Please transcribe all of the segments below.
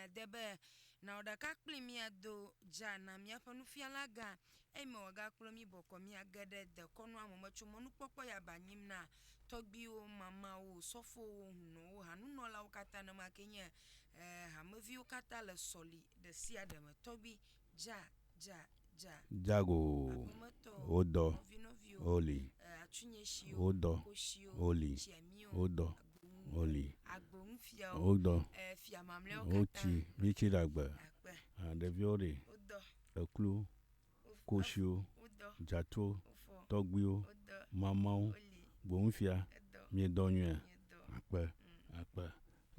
miade be, Nɔ ɖeka kplim míado dza na míaƒe nufialagã, eyime wòagakplɔ mí bɔkɔ míage ɖe dekɔnua me me tso mɔnukpɔkpɔ ya ba nyim na tɔgbuiwo, mamawo, sɔfowo, hunɔwo, hanunɔlawo katã, nenema kee nye hameviwo katã le sɔli ɖe sia ɖe me, tɔgbui Dza, dza, dza. Dzago Aƒemetɔ o, wo dɔ nɔvi nɔvi o, o li. e, Atsunyɛ shi o, Wo dɔ ko shi o, o li. Tsia mí o, Wo dɔ agbo ŋu o, o li. Agbo ŋu fia o, Wo dɔ e, fia mamlɛawo o, katã. tsi mí tsi ɖe agbe. Akpe. A, Ɖeviwo ɖe? Wo dɔ. Eklu, Wo f, ko ef, shi o, wo dɔ. Dzatuo, Wo fɔ. tɔgbuiwo, Wo dɔ. mamawo, O li. gbo ŋu fia, E dɔ. mí dɔ nyuia? Mí dɔ. Akpe, akpe.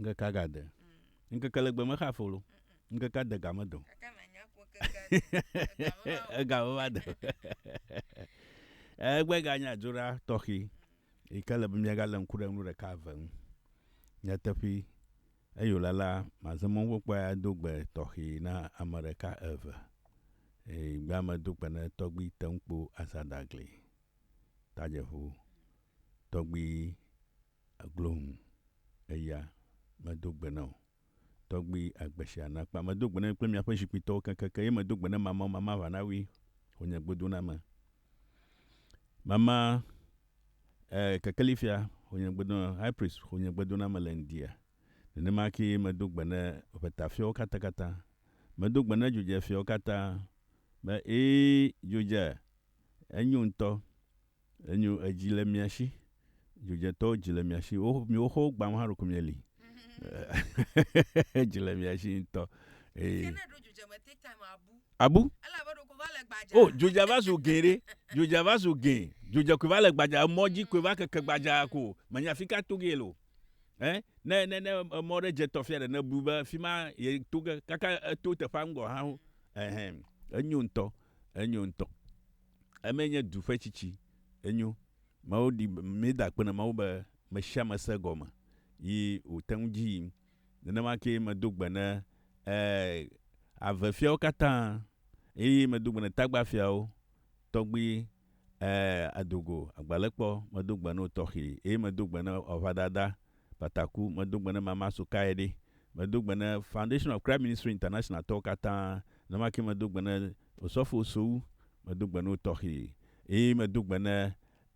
Ŋkeke agade. Ŋkeke le gbe mexa folo. Ŋkeke ade ga me do. Ega me va do. Egbe ga nye adzoɖa tɔxi yi ke le be mia ga le ŋku ɖe nu ɖeka eve ŋu. Nyateƒe eyo la la maze mɔ ŋgbe kpɔe ado gbe tɔxi na ame ɖeka eve. Eye gbe ame do gbe ne tɔgbi te ŋu kpo aza dagli. Tajeʋu tɔgbi. Aglo ŋu, eya medo gbe na wò tɔgbui agbe sia nakpa. Medo gbe na mi kple miaƒe zikpuitɔwo keŋkeŋkeŋ, eye medo gbe na mamao mamaʋanawui wò nye gbodoname. Mama e, kekelifia wò nye gbodoname, high priest wò nye gbodoname le ŋdia. Nenema kee medo gbe na ʋetafiawo katãkatã. Medo gbe na dzodzefiawo katã be, Ee, dzodze, enyo ŋutɔ. Enyo edzi le mia shi. Dzodzetɔwo dzi le mia shi. Wo miwo xɔ wo gbam hã ɖeko mia li. edzi le mia shi ŋutɔ. Eye. Abu. O dzodza va zu gɛ ɖe. Dzodza va zu gɛ. Dzodza koe va le gbadza. Emɔ dzi koe va keke gbadza ko. Menya afika to ge le o. Ɛ ne ne ne emɔ ɖe dze tɔ fia ɖe ne bu be fima ye to ge kaka eto teƒea ŋgɔ hã o. Ehɛn enyo ŋutɔ enyo ŋutɔ. Eme nye du ƒe tsitsi. Enyo. Mawu ɖi be míeda akpe na Mawu be me sia me se egɔme yi wòte ŋu dzi yim. Nenema kee medo gbe ne, ɛɛ, avefiawo katã eye medo gbe ne tagbafiawo, tɔgbi, ɛɛ, adogo, agbalẽkpɔ, medo gbe na wo tɔxee eye medo gbe na aʋadada Bataku, medo ŋugbe ne Mama Sokae ɖi, medo ŋugbe ne Foundation of Christ Ministry International tɔwo katã, nenemake medo ŋugbe ne Osɔfo Ossou, medo ŋugbe ne wo tɔxi, eye medo ŋugbe ne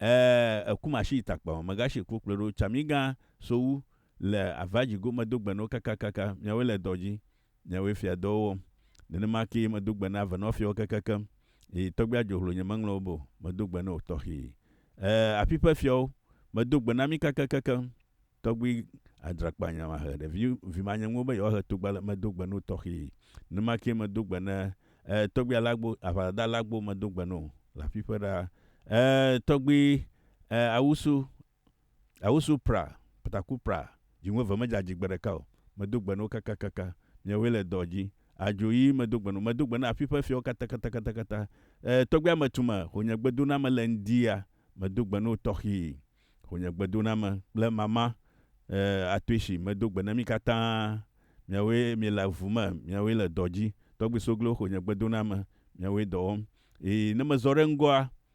ɛɛ Ekumashi Takpawa Megashi Kpokploɖo Tsamigã Sowu le Avajigo, medo ŋugbe ne wo kakakaka, miawoe le dɔ dzi. Nyawoe fia dɔwo wɔm. Nenema kee medo gbe na avenɔfiawo kekekem, eye tɔgbuia dzohlo nye meŋlɔ wo be o, medo gbe na wò tɔxee. Ẽ, afi ƒe fiawo, medo gbe na mi kekekekem. Tɔgbui adrakpanya mahe ɖevi vimanyeŋuwo be yewoahe togba le, medo gbe na wò tɔxee. Nenema kee medo gbe na, ẽ, tɔgbui alagbo, aʋadada alagbo, medo gbe na wò le afi ƒe ɖaa. Ẽ, tɔgbui, ẽ, awusu, Awusu pra, taku pra, dziŋu eve medze adzi gbe ɖeka o. Medo gbe na wo kakakaka. Miawoe le dɔ dzi. Adzo ɣi medo gbe na wo. Medo gbe na afi ƒe fiawo katakatakatakata. E, tɔgbui ametume, ho nye gbedoname le ŋdi ya. Medo gbe na wò tɔxii. Ho nye gbedoname kple mama, e, Atoishi, medo gbe na mi katã. Miawoe miele avu me. Miawoe le dɔ dzi. Tɔgbui Soglo, ho nye gbedoname. Miawoe dɔ wɔm. Ɣi ne mezɔ ɖe ŋgɔa,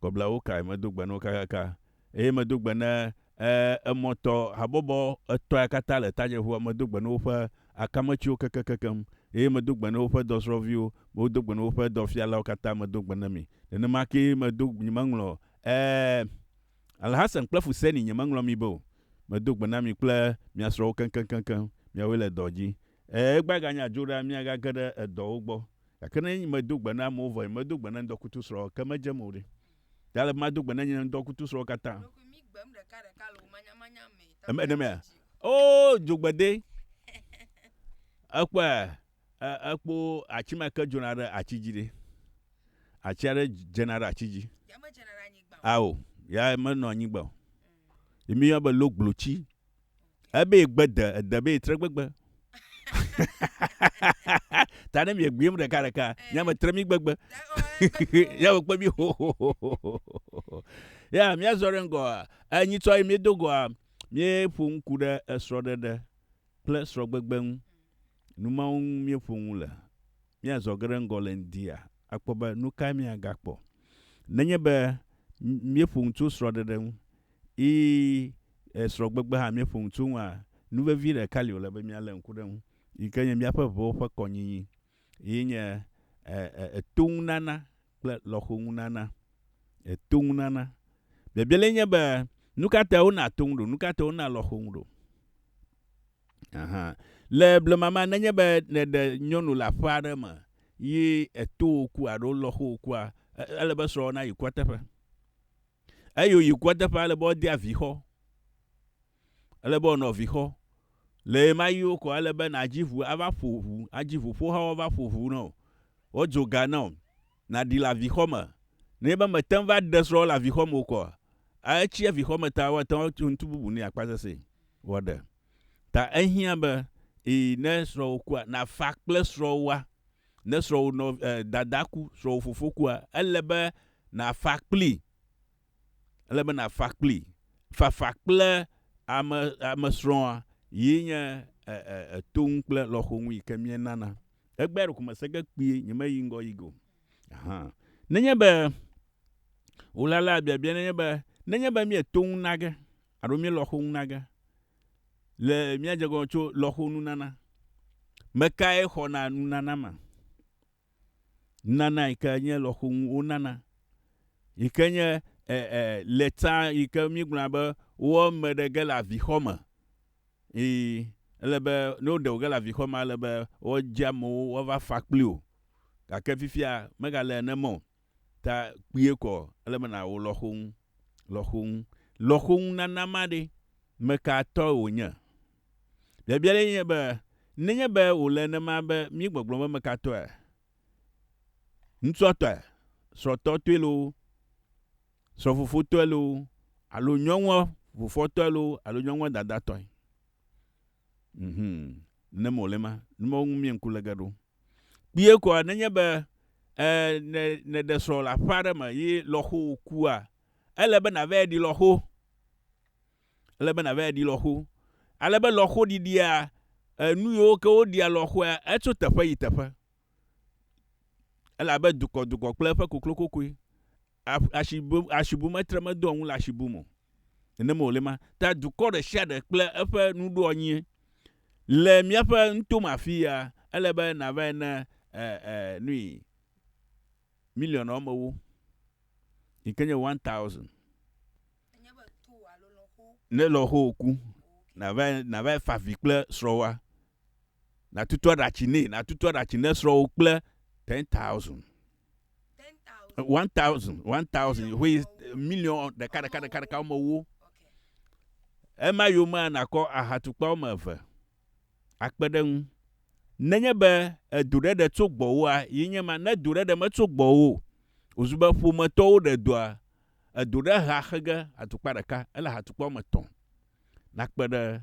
Kɔblawo kae medo gbe na wo kakaka, eye medo gbe na emɔtɔ habɔbɔ etɔ̃ ya katã le tadzieƒua? Medo gbe na woƒe akametsiwo kekekekeŋ, eye medo gbe na woƒe dɔsrɔ̃viwo, medo gbe na woƒe dɔfialawo katã, medo gbe na mi. Nenema kee medo, nyemeŋlɔ, e, Alhasen kple Fuseni, nyemeŋlɔ mi be o. Medo gbe na mi kple mia srɔ̃wo keŋkeŋkeŋ, miawoe le dɔ dzi. Ɛ̃, egbea aganye adzoɖoa mí agage ɖe edɔwo gbɔ. Gake ne nye medo gbe na amewo vɔ nye medo gbe na ŋdɔkutusrɔ̃ o, ke medzem o ɖe? Ɖe ele be mado gbe na nye ŋdɔkutusrɔ̃wo katã? Eme ɖe mea? Oo, dzogbede! Ekpɔe, ekpɔ atsi ma ke dzona ɖe atsi dzi ɖe. Atsi aɖe dzena ɖe atsi dzi. Ao, ya menɔa anyigba o. Ye mí yɔna be logblo tsi. ebe ye gbe de ede be ye tre gbegbe ta ne mie gbiem ɖeka ɖeka nye ame tre mi gbegbe ya wo kpe mi ho ho ho ho ho ya mia zɔ ɖe ŋgɔ enyi tsɔ ye mie do gɔa mie ƒo ŋku ɖe esrɔ ɖeɖe kple srɔ gbegbe ŋu numawo ŋu mie ƒo ŋu le mia zɔ ge ɖe ŋgɔ le ŋdia akpɔ be nuka mia gakpɔ nenye be mie ƒo ŋu tso srɔ ɖeɖe ŋu yi esrɔ̃gbegbe hã míeƒo nu tso eŋua, nu vevi ɖeka li wòle be míalé ŋku ɖe eŋu yi ke nye míaƒe ʋuwo ƒe kɔnyinyi ye nye etoŋunana kple lɔxoŋunana. Etoŋunana. Biabia lae nye be, nu ka tae wonaa to ŋu ɖo? Nu ka tae wonaa lɔxo ŋu ɖo? Aha. Le blema mea, nenye be nèɖe nyɔnu le aƒe aɖe me yi etowò ku alo lɔxowò kua, ele be srɔ̃wò nayi kua teƒe. Eyi wòyi kua teƒe ale be wodea vixɔ. Ele be wònɔ vixɔ. Le ɣemaɣiwo ko ele be nàdzi ŋu ava ƒo ŋu, adzi ŋuƒohawo ava ƒo ŋu na wò, woadzo ga na wò, nàɖi le avixɔ me. Nenye be mète ŋu va ɖe srɔ̃wò le avixɔ me o koa, etsi avixɔ me ta woate ŋu atso ŋuti bubu nɛ akpa sesẽe woaɖe. Ta ehiã be, ii, ne srɔ̃wò kua, nàfa kple srɔ̃wòa. Ne srɔ̃wò nɔ e dada ku, srɔ̃wò fofo kua, ele be nàfa kplii. Ele be nàfa kplii. Fafa kple ame ame srɔ̃a ye nye e e e to ŋu kple lɔxo ŋu yi ke míenana. Egbea ɖeko mese ge kpuie, nyemeyi ŋgɔ yi go hã. Nenye be wòlalaa biabia nenye be nenye be míeto ŋu na ge alo míelɔxo ŋu na ge. le míadze gɔme tso lɔ̃xonunana. Me kae xɔna nunana ma? Nunana yi ke nye lɔ̃xo ŋu wonana, yi ke nye e, e, lɛta yi ke míegblɔna be wowɔ eme ɖe ge le avixɔ me. Ii, ele be ne woɖe wo ge le avixɔ me, ele be woadze amewo woava fa kpli wò. Gake fifia megale nenema o. ta kpuie kɔ, ele be nàwɔ lɔxonu. Lɔxonu. Lɔxonunana ma ɖe, me ka tɔ wònye? Biabia ɖe nye be, nenye be wòle nenema be míegbɔgblɔ be me ka tɔe, ŋutsua tɔe, srɔ̃tɔ tɔe loo, srɔ̃fofo tɔe loo, alo nyɔnua fofoa tɔe loo, alo nyɔnua dadaa tɔe. Mhmm ne mo le ma nu mawo ŋu mie ŋku le ge ɖo kpuie koa ne nye be e ne ne ɖe srɔ le aƒe aɖe me ye lɔxo wo kua ele be na vɛ ɖi lɔxo ele be na vɛ ɖi lɔxo ale be lɔxo ɖiɖia enu yewo ke wo ɖia lɔxoa etso teƒe yi teƒe. Ele abe dukɔdukɔ kple eƒe koklokokoe. Asibu, asibu metre medoa ŋu le asibu me o. Nenema wòle ma. Ta dukɔ ɖe sia ɖe kple eƒe nuɖoanyie. Le míaƒe nutome afii ya, ele be nàvae ne e, e, nui miliɔn wɔme ewo, yi ke nye one thousand, ne lɔ̃xowò ku, nàvae, nàvae fa avi kple srɔ̃wòa, Natutu aɖatsi nɛ. Natutu aɖatsi ne srɔ̃wò kple ten thousand. One thousand, one thousand, ʋe million ɖeka ɖeka ɖeka ɖeka wɔme wo. Ema yomea nakɔ ahatukpa wɔme eve akpe ɖe ŋu. Nenye be edo ɖe ɖe tso gbɔwòa, yi nye ma. Ne do ɖe ɖe metso gbɔwò, wòzu be ƒometɔwo ɖe doa, edo ɖe hea xe ge atukpa ɖeka, ele ahatukpa wɔme etɔ̃ nakpe ɖe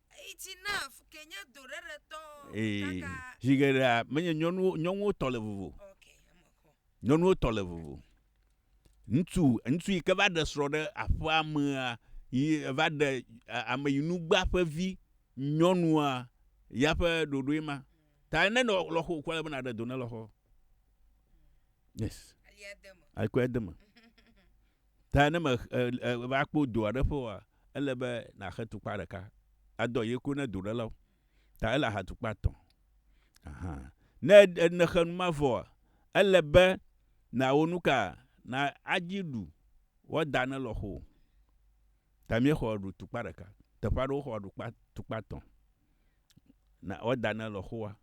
Ee, zi geɖea menye nyɔnuwo nyɔnuwo tɔ le vovo. Nyɔnuwo tɔ le vovo. Ŋutsu ŋutsu yi ke va ɖe srɔ̃ ɖe aƒea mea yi va ɖe ame yi nu gbea ƒe vi nyɔnua ya ƒe ɖoɖoe ma. Ta ne nɔ lɔxo kɔ le be naɖe do ne lɔxɔ. Yes. Ekɔe de eme. Ta ne me e, e, va kpɔ do aɖe ƒe oa, ele be nàxe tukpa ɖeka adɔ ye ko ne doɖelawo. Ta ele axa tukpa tɔ̃. Aha. Ne nèxe nu ma vɔa, ele be nàwɔ nu ka? Na adzi ɖu wɔda ne lɔxo o. Ta míexɔ ɖu tukpa ɖeka. Teƒe aɖewo xɔ ɖu kpa, tukpa tɔ̃. Na wɔda ne lɔxoa.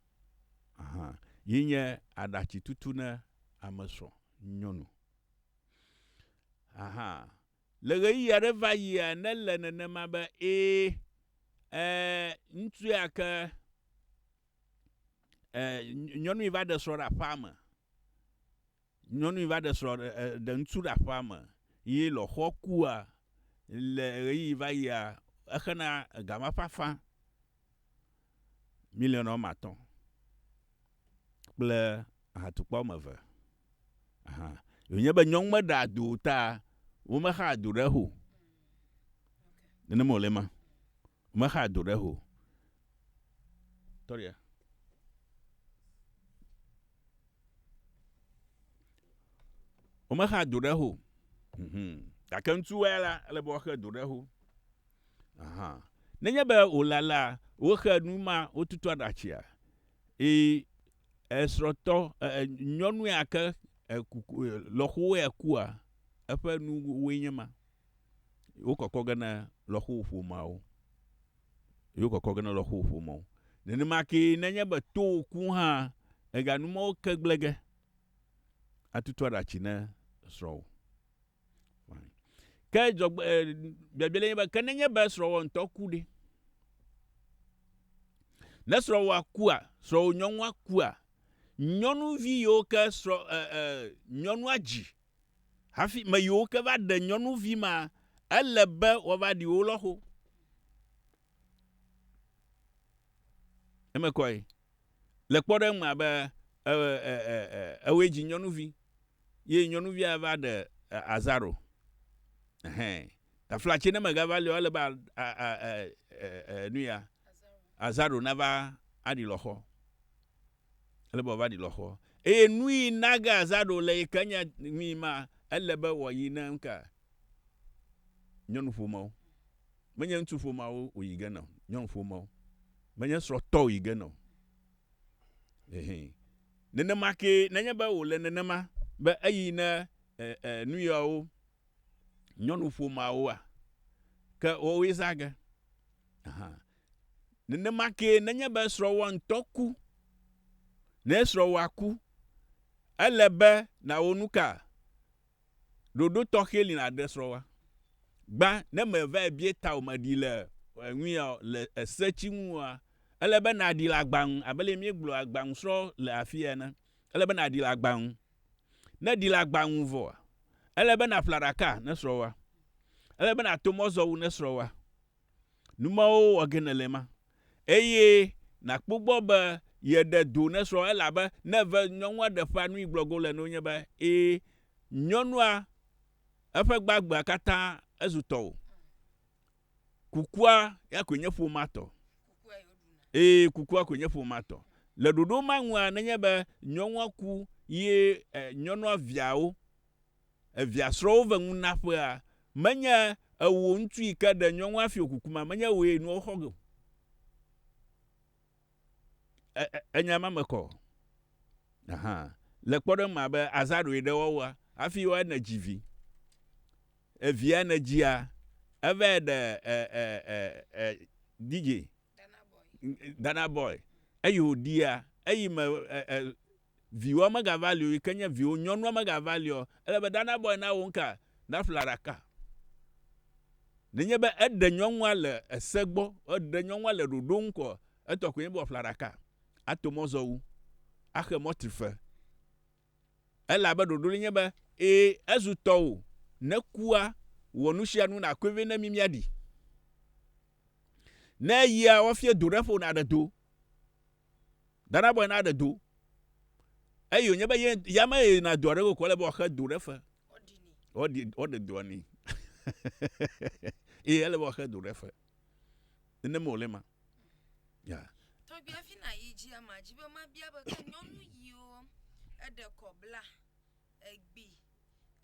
Aha. Yi nye aɖatsitutu ne ame srɔ̃ nyɔnu. Aha. Le ɣeyiɣi aɖe va yia ne le nenema be ee, e, ŋutsu ya ke e, nyɔnui va ɖe srɔ̃ ɖe aƒea me. Nyɔnui va ɖe srɔ̃ ɖe ŋutsu ɖe aƒea me ye lɔxɔ kua le ɣeyiɣi va yia exena gama ƒe afã miliɔn wɔme atɔ̃ kple ahatukpa wɔme eve. Wònye be nyɔnu meɖea do o ta womexaa do ɖe ho. Nene mɔlɛ ma. Womexaa do ɖe ho. Tɔria. Womexaa do ɖe ho. Gake ŋutsu wɛ la, ele be woaxe do ɖe ho. Aha. Nenye be wòlalaa, woxe nu ma, wotutu aɖatsia. Eye Esrɔtɔ eh nyɔnu ya ke eh lɔxowo ya kua eƒe nuwoe nye ma. Wo kɔkɔ ge na lɔxowo ƒomeawo. Wo kɔkɔ ge na lɔxowo ƒomeawo. Nenema ke nenye be to wò ku hã ega numɔwo ke gblege atutu aɖatsi ne srɔwò. Ke dzɔgbe biabia le nye be ke nenye be srɔ̃wò ŋutɔ ku ɖe? Ne srɔ̃wòa kua, srɔ̃wò nyɔnua kua, nyɔnuvi yiwo ke srɔ̃ e e nyɔnua dzi hafi me yiwo ke va ɖe nyɔnuvi ma ele be woava ɖi wo lɔxo. Eme kɔe. Le kpɔɖeŋu me abe ewòe dzi nyɔnuvi, ye nyɔnuvia va ɖe azaro. Ɛhɛ. Tafla tse ne megava li o, ele be nuya, azaro nava aɖi lɔxɔ. Ele be wòava ɖi lɔxɔ. Eye nuyi nage azaro le yi ke nye nuyi ma, ele be wòayi ne nuka? Nyɔnuƒomewo. Menye ŋutsuƒomeawo wòyi ge na o, nyɔnuƒomewo. Menye srɔ̃tɔ wòyi ge na o. Ɛhɛ. Nenema kee, nenye be wòle nenema be eyi ne e, e, nu yawo nyɔnuƒomeawoa, ke woawoe zã ge. Aha. Nenema kee, nenye be srɔ̃wòa ŋutɔ ku, ne srɔ̃wòa ku, ele be nàwɔ nu ka? Ɖoɖo tɔxɛ li nàɖe srɔ̃wòa. Gbã, ne mèvae bia ta o, mèɖi le eŋuia o, le ese tsi ŋu oa, ele be nàɖi le agba ŋu, abe ale míegblɔ agba ŋu srɔ̃ le afii ene. Ele be nàɖi le agba ŋu. Ne èɖi le agba ŋu vɔa, ele be nàƒle aɖaka ne srɔ̃wòa. Ele be nàto mɔzɔwu ne srɔ̃wòa. Nu mawo wɔ ge nèle ema, eye nàkpɔ gbɔ be yeɖe do ne srɔ̃a, elabe ne eve nyɔnua ɖe ƒea nu yi gblɔ go le na wo nye be, ẽ, nyɔnua, eƒe gbagbea katã ezu tɔwò. Kukua ya koe nye ƒomea tɔ. Ẽ, kukua koe nye ƒomea tɔ. Le ɖoɖo ma nua, nenye be nyɔnua ku ye ẽ, nyɔnua viawo, Evia srɔwo ve ŋu na ƒea menye ewo ŋtu yi ke ɖe nyɔŋua fio kukuma menye ewoe nua wo xɔ ge o. E, e, enya ma me kɔ. Aha. Le kpɔɖeŋ ma be azã ɖoe ɖe woawoa afi woa ne dzi vi. Evia ne dzia eve ɖe e, e, e, e, DJ. Dana boy. Eyi o dia eyi me e, e, Viwoa megava li o, yi ke nye viwò nyɔnua megava li o, ele be ɖa nabɔe na wò ŋka, naƒle aɖaka. Nenye be eɖe nyɔnua le ese gbɔ, eɖe nyɔnua le ɖoɖo ŋu ko, etɔ koe nye be wòaƒle aɖaka, ato mɔzɔwu, axe mɔtrife. Elabe ɖoɖo li nye be, ẽ, ezu tɔwò, ne kua, wɔ nusianu nàkɔe vɛ ne mí míaɖi. Ne eyia, woafia do ɖe ƒo nàɖe do. Dana bɔe na ɖe do. Eyi wònye be ye ya me ye na doa ɖe kokɔ le be wòaxe do ɖe fe. Woɖi woɖe doa ni. Eye ele be wòaxe do ɖe fe. Nenema wòle ma. Ya. Tɔgbiavi na yi dzi ama dzi be mabia be ke nyɔnu yiwo eɖe kɔ bla Egbi,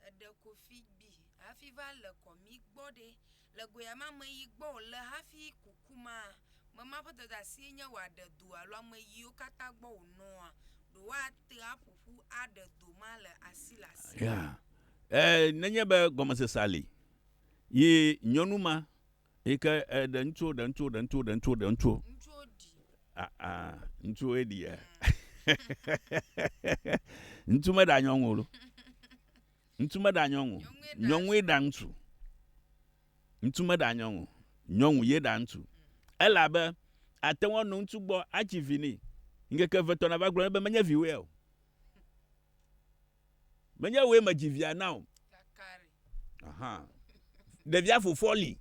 eɖe kofi gbi hafi va le kɔ mi gbɔ ɖe, le goya ma me yi gbɔ o le hafi kuku ma me ma ƒe dɔdeasie nye wòaɖe do alo ame yiwo katã gbɔ wònɔa ɖo woate aƒo ƒu aɖe do ma le asi le asi. Ya, e, nenye be gɔmesesea li, yi nyɔnu ma Yi ke eh, ɖe ŋutsuwo, ɖe ŋutsuwo, ɖe ŋutsuwo, ɖe ŋutsuwo, ɖe ŋutsuwo. Ŋutsuwo ɖi. Ah, ah, ŋutsuwoe ɖi ya. Ŋutsu meɖa nyɔnu o ɖo. Ŋutsu meɖa nyɔnu o. Nyɔnue ɖa ŋutsu. Ŋutsu meɖa nyɔnu o. Nyɔnu ye ɖa ŋutsu. Elabe ate ŋu anɔ ŋutsu gbɔ adzi vi nɛ. Ŋkeke evetɔ nava gblɔ nɛ be menye viwòe ya o. Menye wòe medzi via na o. Aha. Ɖevia fofoa li.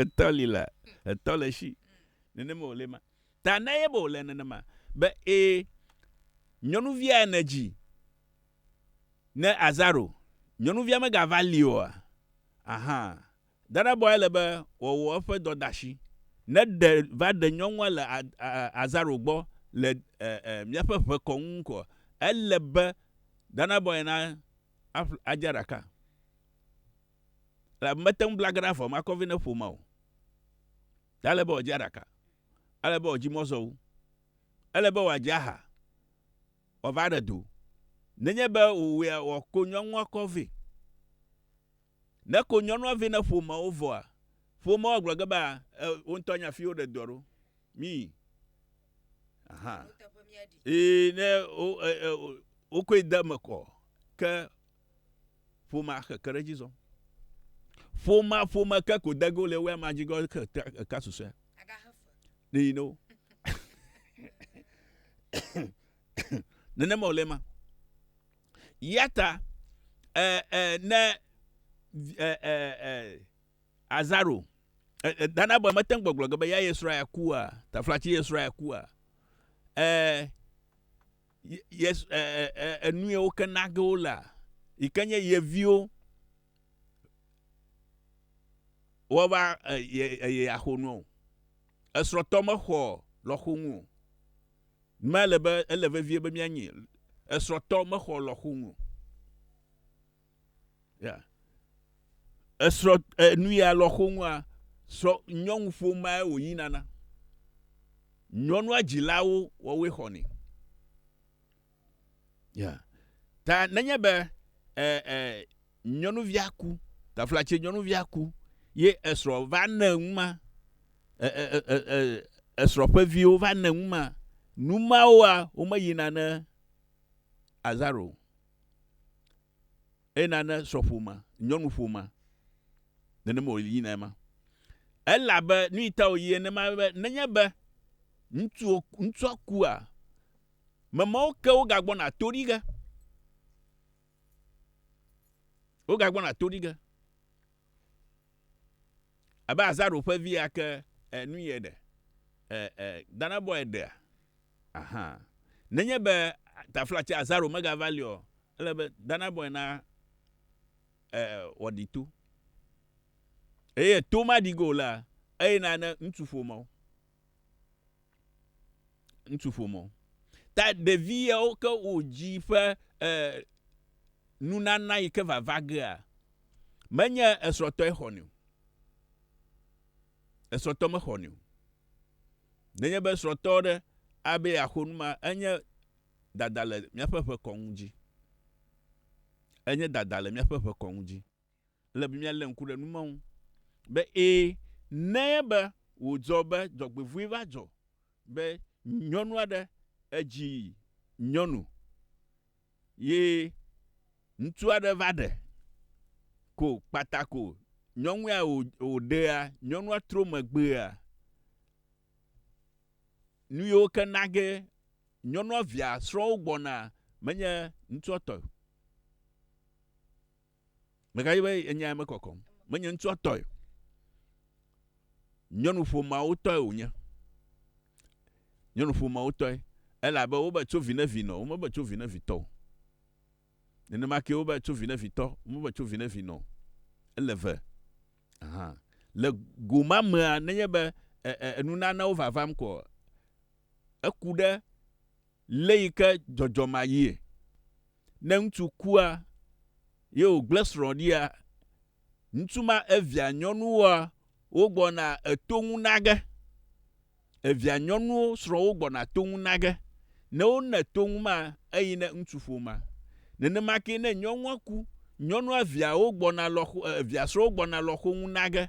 Etɔ li la. Etɔ le si. Nenema wòle ma. Ta na ye be wòle nenema. Be ee, nyɔnuvia ya nèdzi ne Azaro, nyɔnuvia megava li oa? Aha. Dadabɔae le be wòawɔ eƒe dɔdeasi. Ne ɖe va ɖe nyɔnua le azaro gbɔ le míaƒe ʋe kɔ ŋu koa, ele be Dadabɔae na adzea ɖaka, elabe mete ŋu bla ge ɖe avɔ ma kɔvi ne ƒo ma o. Ɖe ele be wòadzea ɖaka? Ele be wòadzi mɔ zɔ wu. Ele be wòadze aha wòava ɖe do. Nenye be wòwɔea, wòako nyɔnua kɔ vɛ. Ne ko nyɔnua vɛ ne ƒomewo vɔa, ƒomewo agblɔ ge be, E, wo ŋutɔ nya fi woɖe dɔa ɖo. Mí. Aha. Ee, ne wo, e, e, wokɔe de eme kɔ, ke ƒomea xe ke ɖe edzi zɔm. Ƒomea ƒome ke ko de ge wole woe amea dzi ge ke eka susɔea. Ɖe yi ne wo. Nenema wòle ma. Yata eh, eh, ne eh, eh, eh, Azaro eh, eh, Dana bɔ mete ŋu gbɔgblɔ ge be ya yesrɔ̃ ya kua, taflatsi yesrɔ̃ ya kua. Eh, yes, eh, eh, enue eh, woke nage wo la yi ke nye ye viwo woava eh, ye, ye axo nu o. Esrɔ̃tɔ mexɔ lɔxonu o. Mele be ele vevie be míanyi esrɔ̃tɔ mexɔ lɔxonu o. Ya. Esrɔ̃ enu ya lɔxonua srɔ̃ nyɔnu ƒomae wòyina na. Nyɔnua dzilawo wɔwoe xɔnɛ. Yeah. Ta nenye be e, e, nyɔnuvia ku, taflatse nyɔnuvia ku, ye esrɔ̃ va ne ŋu ma, e, e, e, e, e esrɔ̃ ƒe viwo va ne ŋu ma, nu mawoa womeyina ne azaro, eyina ne srɔ̃ƒome, nyɔnuƒome, nenema wòli yina ema. Elabe nu yi ta wòyi enema be nenye be ŋutsu ŋutsua kua, Memawo ke wogagbɔna to ɖi ge. Wogagbɔna to ɖi ge. Abe Azaro ƒe via ke enu yɛ ɖe. Dana bɔe ɖea. Aha. Nenye be taflatse Azaro megava li o, ele be Dana bɔe na wɔɖi to. Eye to maɖi go la, eye na ne ŋutsu ƒomeo. ŋutsu ƒomɔ ta ɖevi yawo ke wodzi ƒe e nunana yi ke vava gea menye esrɔtɔe xɔnɛ o esrɔtɔ me xɔnɛ o nenye be srɔtɔ ɖe abe ya xɔ nu ma enye dada le miaƒe ƒe kɔnu dzi enye dada le miaƒe ƒe kɔnu dzi Ele be míalé ŋku ɖe nu ma ŋu be ẽ, ne enye be wòdzɔ be dzɔgbevɔ̃e va dzɔ be nyɔnu aɖe edzi nyɔnu ye ŋutsu aɖe va ɖe ko kpata ko nyɔnu ya wòɖea, nyɔnua tro megbea, nu yiwo ke na ge nyɔnua via srɔ̃wo gbɔna menye ŋutsua tɔe o. Meka dzi be enya ya mekɔkɔm. Menye ŋutsua tɔe. Nyɔnu ƒomeawo tɔe wònye. Nyɔnu ƒomeawo tɔe. Elabe wobe tso vi ne vi nɔ, womebe tso vi ne vi tɔ o. Nenema ke wobe tso vi ne vi tɔ, womebe tso vi ne vi nɔ o. Ele ve. Ahan. Le go ma mea, nenye be e, e, enunanewo vavam koa, eku ɖe Le yi ke dzɔdzɔ ma yie. Ne ŋutsu kua ye wo gble srɔ̃ ɖia, ŋutsu ma evia nyɔnuwoa wo gbɔna eto ŋu nage. Evia nyɔnuwo srɔ̃wo gbɔna to ŋu nage. Ne wo ne to ŋu ma eyi ne ŋutsu ƒoma. Nenema ke ne nyɔnua ku, nyɔnua via wo gbɔna lɔxo e evia srɔ̃wo gbɔna lɔxo ŋu nage.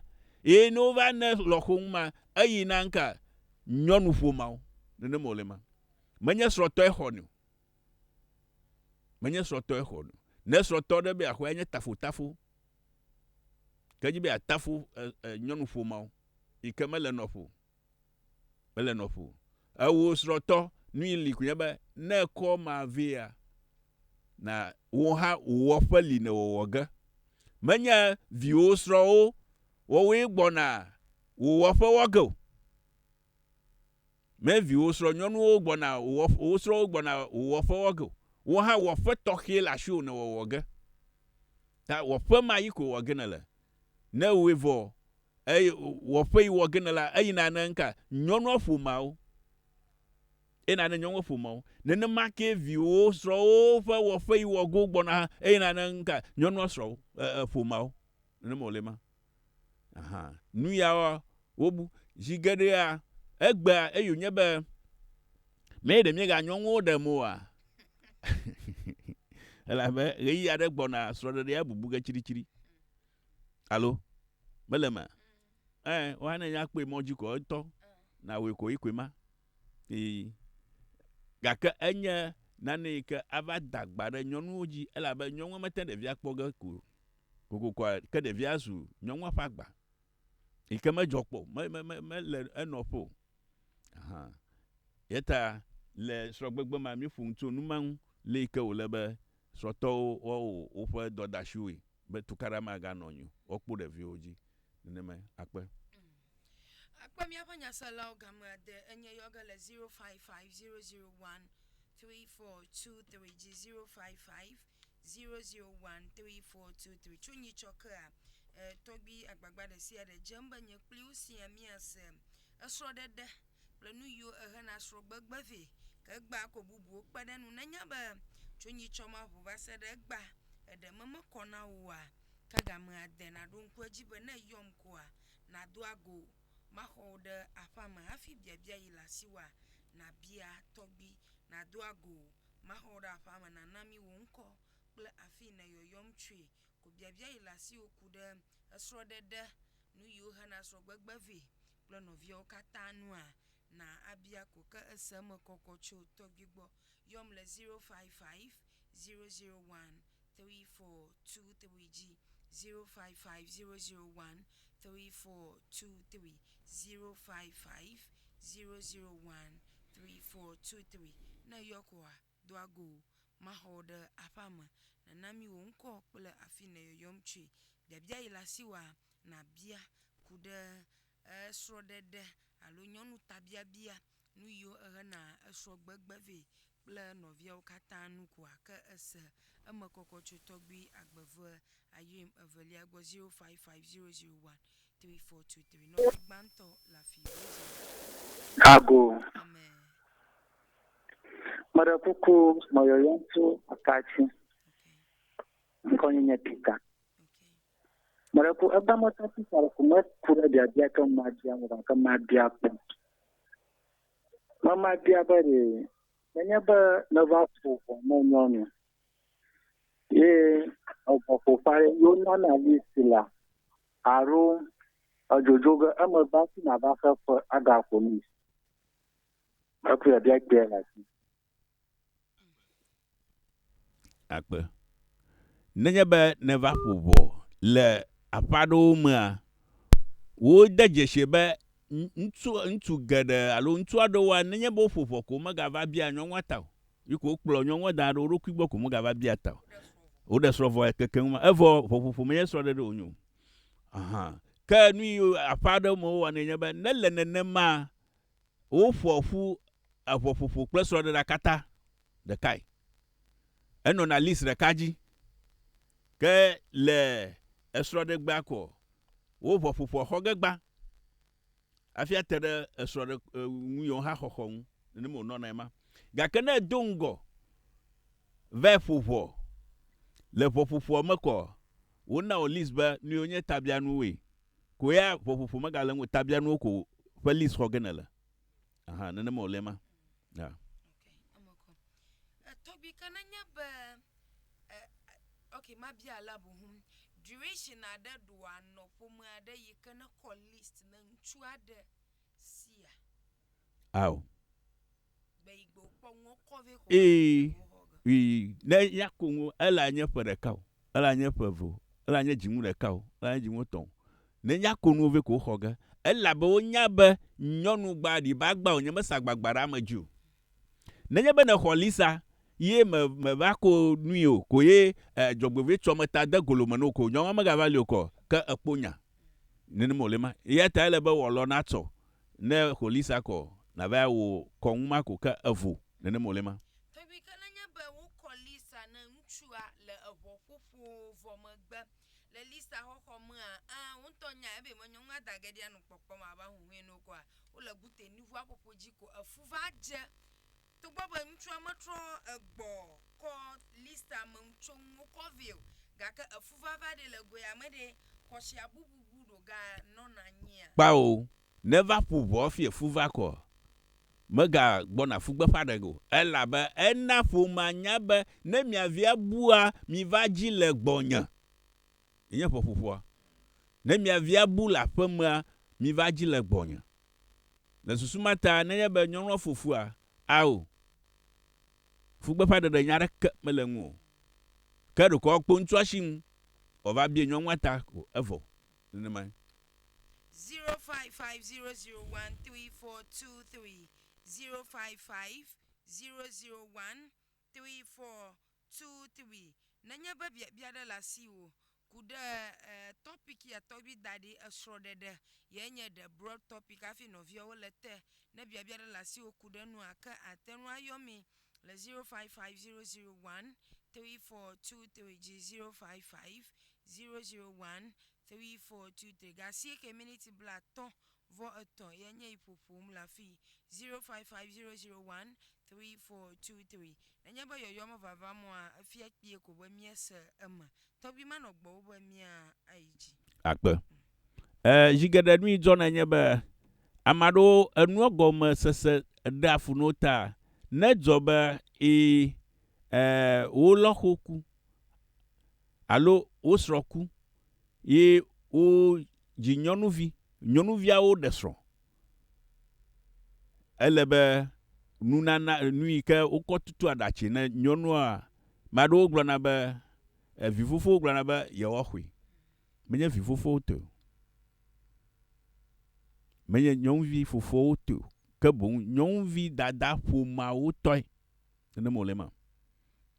Eye ne wo va ne lɔxo ŋu ma eyi na ŋka nyɔnu ƒomawo. Nenema wo le ma. Menye srɔ̃tɔe xɔnɛ o. Menye srɔ̃tɔe xɔnɛ o. Ne srɔ̃tɔ ɖe be yeaxɔe anye tafotafo. Ke edzi be yeatafo nyɔnuƒomao yi ke mele nɔƒo o. Mele nɔƒo o. Ewò srɔ̃tɔ, nui li koe nye be, ne ekɔ ma vea, na wò hã wò wɔƒe li nèwɔ wɔ ge. Menye viwò srɔ̃wo wɔwoe gbɔna wò wɔƒe wɔ ge o. Me viwò srɔ̃nyɔnuwo gbɔna wò wò srɔ̃wo gbɔna wò wɔƒe wɔ ge o. Wò hã wɔƒe tɔxɛ le asiwò nèwɔ wɔ ge. Ta wɔƒe ma yi koe wɔ ge nèle. Ne ewɔe vɔ eye wɔƒe yi wɔ ge nèle la, eyina ne ŋka? Nyɔnua ƒomeawo. Eyina ne nyɔnua ƒomeawo. Nenema kee viwò srɔ̃wo ƒe wɔƒe yi wɔ ge wogbɔna hã eyina ne ŋka? Nyɔnua srɔ̃wo e, e, ƒomeawo. Nenema wòle ema. Aha, nuyawoa, wobu, zi geɖea, egbea, eye wònye be, mee ɖe míeganyɔ ŋuwo ɖem oa? Elabe ɣeyiɣi aɖe gbɔna srɔ̃ɖeɖea bubu ge tsiɖitsiɖi. Alo? Mele eme? Ẽ, woa ne nya kpɔe mɔ dzi ko etɔ, nawɔe ko yi koe ma. Ii. Gake enye nane yi ke ava da gba ɖe nyɔnuwo dzi, elabe nyɔnua mete ɖevia kpɔ ge ko. Kokoko ke ɖevia zu nyɔnua ƒe agba yi ke medzɔ kpɔ o, me, me, me, mele enɔƒe o. Aha. Ye ta le srɔ̃gbegbe mea, míeƒo nu tso nu ma ŋu, le yi ke wòle be srɔ̃tɔwo woawɔ woƒe dɔdashiwoe be tukaɖa maganɔ anyi o, woakpɔ ɖeviwo dzi nenemae. Akpe. Akpe míaƒe nyaselawo game ade enye yɔ ge le zero five five zero zero one three four two three dzi, zero five five. Zero zero one three four two three tso nyitsɔ kea e, tɔgbi agbagba ɖe sia ɖe dze ŋ be nye kpli wo sia míase esrɔ̃ɖeɖe kple nu yiwo ehe na srɔ̃gbegbe vɛ ke egbea ko bubuwo kpe ɖe enu. Nenye be tso nyitsɔ ma ŋu va se ɖe egbea eɖe me mekɔ na woa, ke gamea de naɖo ŋku edzi be ne eyɔm koa nàdo ago maxɔ wo ɖe aƒea me hafi biabia yi le asiwòa nabia tɔgbi nado ago Maxɔ ɖe aƒea me nana mí wò ŋkɔ kple afii nèyɔyɔm tsoe ko biabia yi le asiwò ku ɖe esrɔ̃ɖeɖe, nu yiwo hena srɔ̃gbegbe vɛ kple nɔviawo katã nua, na abia ko ke ese eme kɔkɔ tso tɔgbui gbɔ. Yɔm le zero five five zero zero one three four two three dzi zero five five zero zero one three four two three zero five five zero zero one three four two three. Ne èyɔ koa, do ago wò. Maxɔ wò ɖe aƒea me. Nàna mí wò ŋkɔ kple afi yi nèyɔyɔm tsoe. Biabia yi le asiwòa, nàbia ku ɖe srɔ̃ɖeɖe alo nyɔnutabiabia Nu yiwo ehe na esrɔ̃ gbegbe vɛ kple nɔviawo katã nu koa ke ese eme kɔkɔ tso tɔgbui agbeve Ayrim evelia gbɔ 0550013423. Nɔvi gbãtɔ le afii wodzi le. Ago. Amen. Meɖe kuku nɔ yɔyɔm tso ata dzi. Okay. Ŋkɔnye nye Peter. Okay. Mele ku ebe mɔta ti sa ku me ku ɖe dia dia ke ma dia mo ke ma dia kpɔ. Mama dia be re menye be ne va fo fo me nyɔnu. Ye egbɔ fo fa yo nana li sila. Aro ajojo ge eme ba si na ba fe fe aga fo ni. Aku ya dia dia la si. akpe. Nenye be nèva ƒo ʋɔ le aƒe aɖewo mea, wode dzesii be ŋutsu ŋutsu geɖe alo ŋutsu aɖewoa, nenye be woƒo ʋɔ ko womegava biaa nyɔnua ta o. Yi ko wokplɔ nyɔnua da ɖe wo ɖokui gbɔ ko womegava biaa ta o. Woɖe srɔ̃ vɔe kekeŋ ma. Evɔ ʋɔƒoƒo menye srɔ̃ɖeɖe wònye o. Ahan. Ke nu yi aƒe aɖewo me wowɔnɛ nye be ne le nenemaa, Woƒoa ƒu eŋɔƒoƒo kple srɔ̃ɖeɖea katã ɖekae. Enɔna list ɖeka dzi. Ke le esrɔ̃ɖegbea koa, wo ŋɔƒoƒoa xɔ ge gbã hafi ate ɖe esrɔ̃ɖe nu yewo hã xɔxɔ ŋu. Nenema wònɔna ema. Gake ne edo ŋgɔ vae ƒo ŋɔ le ŋɔƒoƒoa me koa, wonao list be nu yewo nye tabianuwoe. Ko ya ƒoƒoƒo megale ŋu o, tabianuwo ko ƒe list xɔ ge nèle. Aha, nenema wòle ema. Ya. Ok, eme kɔ. Eh, Tobi, ke nenye be, eh, ok, mabia alea boŋu. Duration aɖe ɖoa nɔ ƒome aɖe yi ke nekɔ list ne ŋutsu aɖe sia? Ao. Ii, ii, ne ya koŋo, ela nye ƒe ɖeka o, ela nye ƒe eve o, ela nye dziŋu ɖeka o, ela nye dziŋu tɔ̃ o. Ne ya konuwo vɛ ko xɔ ge. Elabe wonya be nyɔnu gba ɖi ba gba o, nye me sa gbagba ɖe ame dzi o. Ne nye be ne xɔ Lisa ye me, me va ko nui o ko ye eh, dzɔgbevɔɛ tsɔ me ta de golo me no ko, nyɔnua me ga va li o kɔ, ke ekpo nya. Nene me wòle ma. Eyata ele be wòalɔ na tsɔ. ne xo li sa kɔ nava ya wo kɔŋu ma ko ke evo nene mo le ma. Ebi ke nenye be wo kɔ li sa ne ŋutsua le eʋɔ ƒoƒo vɔ megbe le li sa xɔxɔ mea, ẽ, wo ŋutɔ nya ebe me nyɔŋua da ge ɖia nu kpɔkpɔ ma va huhue no kɔa, wo le gute nuʋua ƒoƒo dzi ko efu va dze. Togbɔ be ŋutsua metrɔ egbɔ kɔ Listra me ŋutso ŋuwo kɔ vɛ o, gake efuvava ɖe le goea me ɖe, kɔsia bubu bu ɖo ga nɔna anyia? Kpao, neva ƒu ʋɔ hafi efuva kɔ, mega gbɔna fugbeƒe aɖeke o, elabe ena ƒomea nya be ne mia via bua, miva dzi le gbɔnye. nye ƒeƒoƒoa. Ne mia via bu le aƒemea, miva dzi le gbɔnye. Le susu ma ta, nenye be nyɔnua fo fua, ao, fugbeƒãɖeɖe nya aɖeke mele eŋu o. Ke ɖeko woakpɔ ŋutsua si ŋu wòava bia nyɔnua ta ko, evɔ. Nenemae. 0550013423 0550013423 tu twi nenye be biabia ɖe le asiwò ku ɖe topic ya tɔgbi daɖi esrɔ ɖeɖe ye nye ɖe broad topic afi nɔviawo le te ne biabia ɖe le asiwò ku ɖe nua ke atenu ayɔ mi le 0550013423 dzi 0550013423 ga asieke miniti blatɔ vɔ etɔ̃ ye nye yi ƒoƒom le afii, zero five five zero zero one three four two three. Nenye be yɔyɔ mevava mɔa, efia kpuie ko be míese eme. Tɔgbi manɔ gbɔ wu be mía ayi dzi. Akpe. E, zi geɖe nu yi dzɔna nye be ame aɖewo enua gɔme sese ɖea fu na wo ta ne edzɔ be e, e, wo lɔxo ku alo wo srɔ̃ ku. ye wodzi nyɔnuvi. Nyɔnuviawo ɖe srɔ̃. Ele be nunana, nu yi ke wokɔ tutu aɖatsi ne nyɔnua, ame aɖewo gblɔna be, vi fofowo gblɔna be yewoaxɔe. Menye vi fofowo tɔe o. Menye nyɔnuvi fofoawo tɔe o. Ke boŋ nyɔnuvi dada ƒomeawo tɔe. Nenem wòle ema.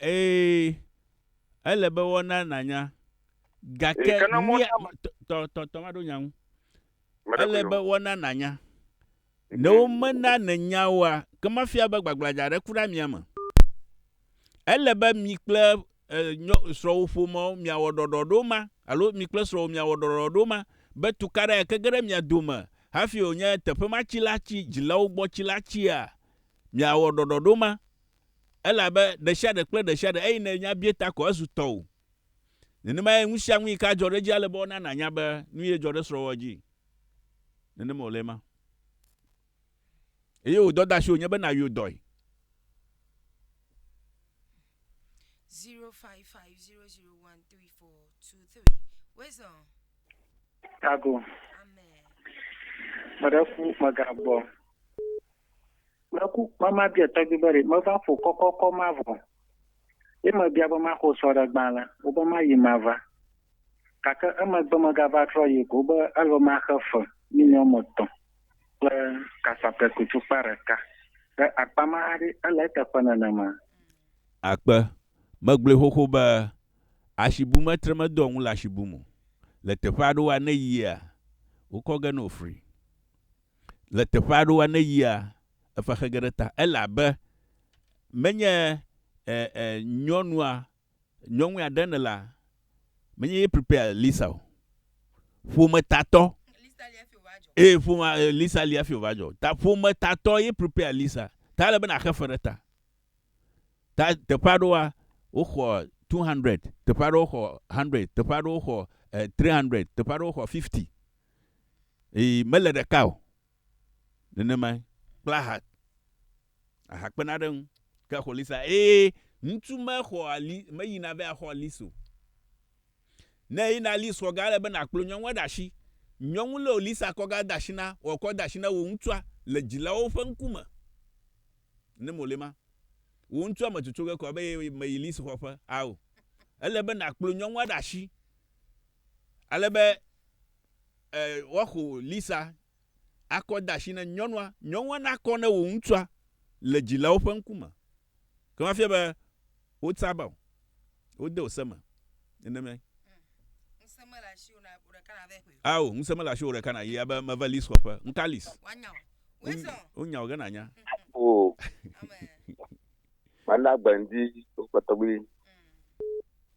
Ee, ele be woana nànya. Gake Ke ne mía mía- tɔ- tɔ tɔ tɔ maɖo nya ŋu. Mede Ele ƒo be yɔ. woana nànya. Ne womena nènya oa, ke mafia be gbagbladza aɖe ku ɖe amia me. Ele be mi kple eh, nyɔ- srɔ̃wò ƒomeawo miawɔ ɖɔɖɔɖo ma alo mi kple srɔ̃wò miawɔ ɖɔɖɔɖo ma be tukaɖa yake ge ɖe mia dome hafi wònye teƒe ma tsi la tsi dzilawo gbɔ tsi la tsia Miawɔ ɖɔɖɔɖo ma, elabe ɖesiaɖe kple ɖesiaɖe eyi nènya bie ta ko ezu tɔwò. Nenemae ŋusiaŋu yi ke adzɔ ɖe edzi ale be wona nànya be nuyee dzɔ ɖe srɔ̃wòa dzi. Nenema wòle ema. Eye wò dɔdeasiwò nye be nàyɔ dɔe. zero five five zero zero one three four two three wezɔ. Tago. Amen. Meɖe ku megagbɔ. Meku be mabia tɔgbi be ɖe meva ƒo kɔkɔkɔ ma vɔ o, ye mebia be maxɔ sɔ ɖe gbã le wo be mayi mava. Gake emegbe megava trɔ yi ko be ele maxe fe mini wɔme etɔ̃ kple kasape ku tukpa ɖeka. Ɖe akpa ma hã ɖe ele eteƒe nenema? Akpe, megblɔe xoxo be asi bum etre medoa ŋu le asi bum o. Le teƒe aɖewoa ne eyia, wokɔ ge nɛ wofri. le teƒe aɖewoa ne yia efa xe ge ɖe ta ele abe menye e e nyɔnua nyɔnue aɖe ne la menye ye prepare Lisa o ƒometatɔ ee ƒome Lisa li afi wòva dzɔ ta ƒometatɔ ye prepare Lisa ta ele be naxe fe ɖe ta ta teƒe aɖewoa woxɔ 200 teƒe aɖewo xɔ 100 teƒe aɖewo xɔ 300 eh, teƒe aɖewo xɔ 50 Eye mele ɖeka o. Nenemae. Kple aha. Aha kpena ɖe eŋu. Ke xɔ lisa. Eye ŋutsu mexɔa li, meyina be axɔ lis o. Ne eyina lis xɔ ga, ele be nàkplɔ nyɔnua ɖe asi. Nyɔnu lɔ lisa kɔ ga de asi na, wòakɔ de asi na wò ŋutsua le dzilawo ƒe ŋkume. Ne mole ema. Wò ŋutsua metsotso ge kɔ be ye meyi lis xɔ ƒe. Ao. Ele be nàkplɔ nyɔnua ɖe asi ale be e, woaxo Lisa akɔ de asi ne nyɔnua, nyɔnua nakɔ ne wò ŋutsua le dzilawo ƒe ŋkume. Ke mafia be wotsa ba o, wode ose me. Nenemae. Ŋusẽ mele asiwò na wò ɖeka nàvae ƒoe. Ao, ŋusẽ mele asiwò ɖeka nàyi abe meva Lis xɔƒe. Ŋka Lis. Woanya wò. Wosɔ. Wonya wò ge nànya. O, Amen. mana gbe ŋdi wokpɔtɔ gbi.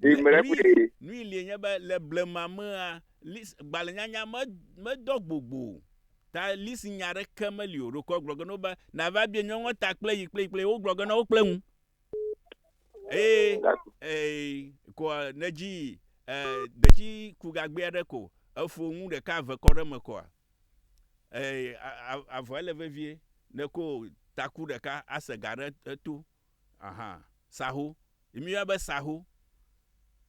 Ɖee mele eŋu ɖee. Nui lie nye be le blema mea, lis, gbalẽnyanya me, medɔ gbogbo o. Ta lisi nya aɖeke meli o. Ɖeko egblɔ ge na wo be, Nava bie nyɔnua ta kple yi kple yi kple yi. Wogblɔ ge na wo kple ŋu. Eye ee, koa nèdzi ee, detsi ku gagbɛ aɖe ko, efo nu ɖeka eve kɔ ɖe eme koa, ee, a, a, avɔe le vevie. Neko taku ɖeka ase ga ɖe eto. Aha, Saho, yi mi yɔna be saho,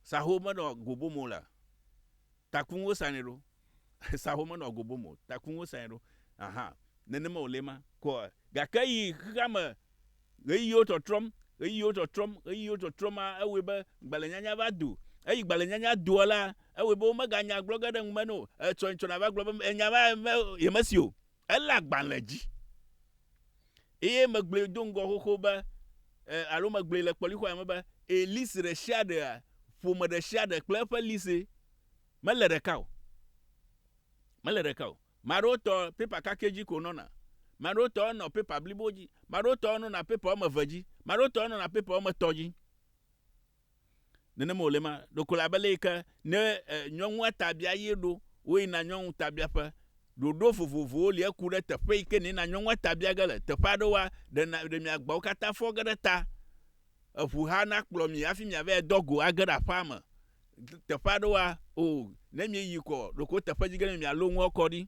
saho me nɔ gobo mo la, takun wo sa nɛ ɖo, saho me nɔ gobo mo, takun wo sa nɛ ɖo, aha, nene me wo le ma. Ko gake yi xexea me ɣeyiɣiwo trɔtrɔm, ɣeyiɣiwo trɔtrɔm, ɣeyiɣiwo trɔtrɔm ma, ewɔe be gbalẽ nyanya va do. Eyi gbalẽ nyanya doa la, ewɔe be wo me ga nya gblɔ ge ɖe ŋu me nɛ o. Etsɔ etsɔ na va gblɔ be enya ma ye me si o. Elé agbalẽ dzi eye megblɔe do ŋgɔ xoxo be, e, alo megblɔe le kpɔlixɔa me be, e, lise ɖe sia ɖea, ƒome ɖe sia ɖe kple eƒe lise. Mele ɖeka o. Mele ɖeka o. Ame aɖewo tɔ pepa kakɛ dzi ko wonɔna. Ame aɖewo tɔ nɔ pepa blibo dzi. Ame aɖewo tɔ nɔna pepa woame eve dzi. Ame aɖewo tɔ nɔna pepa woame etɔ̃ dzi. Nenema wòle ma ɖeko le abe lé yike ne nyɔnua ta bia ye ɖo, woyi na nyɔnu ta bia ƒe. Ɖoɖo vovovowo li eku ɖe teƒe yike ne yina nyɔnua ta bia ge le. Teƒe aɖewoa, ɖe na, ɖe mia gbawo katã fɔ ge ɖe ta, eʋu hã na kplɔ mi hafi mia vae dɔ go age ɖe aƒea me. Teƒe aɖewoa, o, ne mie yi kɔ, ɖeko teƒe dzi ge ne mia lo nua kɔ ɖi.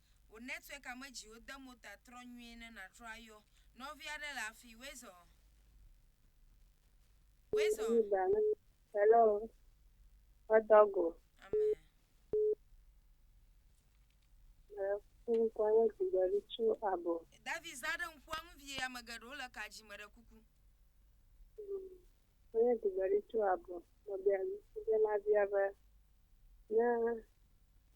Wò network ame dziwo de mo ta trɔ nyuie ne natrɔ ayɔ nɔvi aɖe le afii wezɔ wezɔ. Hello Father go. Amen. Eh, kum kwanyo dibali chu abo. David za ɖe ŋkua ŋu vie ame geɖewo le ka dzi me ɖe kuku. Kwanyo dibali chu abo. Mabia dibia be ne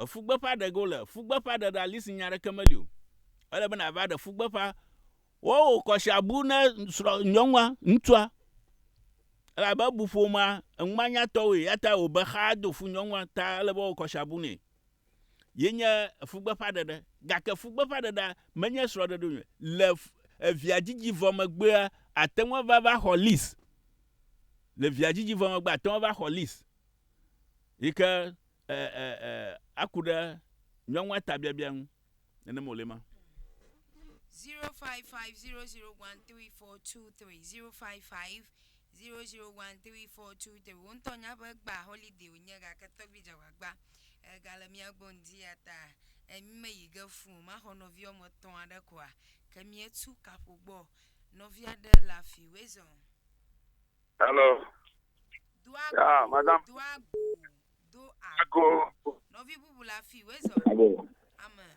Efugbeƒa ɖe ge wole. Fugbeƒa ɖe ɖe ali si nya ɖeke meli o. Ele be na va ɖe fugbeƒa. Wo wo kɔ sia bu ne srɔ nyɔnua, ŋtsua. Elabe ebu ƒomea, enuma nya tɔ woe. Yata wo be xa do fu nyɔnua ta ele be wo kɔ sia bu ne. Ye nye fugbeƒa ɖe ɖe. Gake fugbeƒa ɖe ɖe me nye srɔ ɖe ɖe onye. Le evia dzidzi vɔ megbea, ateŋua va va xɔ lis. Le via dzidzi vɔ megbea, ateŋua va xɔ lis. yi ke e, e, e, aku ɖe nyɔnua ta biabia ŋu. Nenem wòle ma. 0550013423055 0013423 wo ŋutɔ nya be gba holiday wonye gake tɔgbi dzagbagba egale mía gbɔ ŋdi ya ta emi me yi ge fun maxɔ nɔvi wɔme etɔ̃ aɖe koa ke mietu kaƒo gbɔ nɔvi aɖe le afi wezɔn Hello. Ah, madame. Ako. Nɔvi bubu le afi wezɔ. Abo. Amen.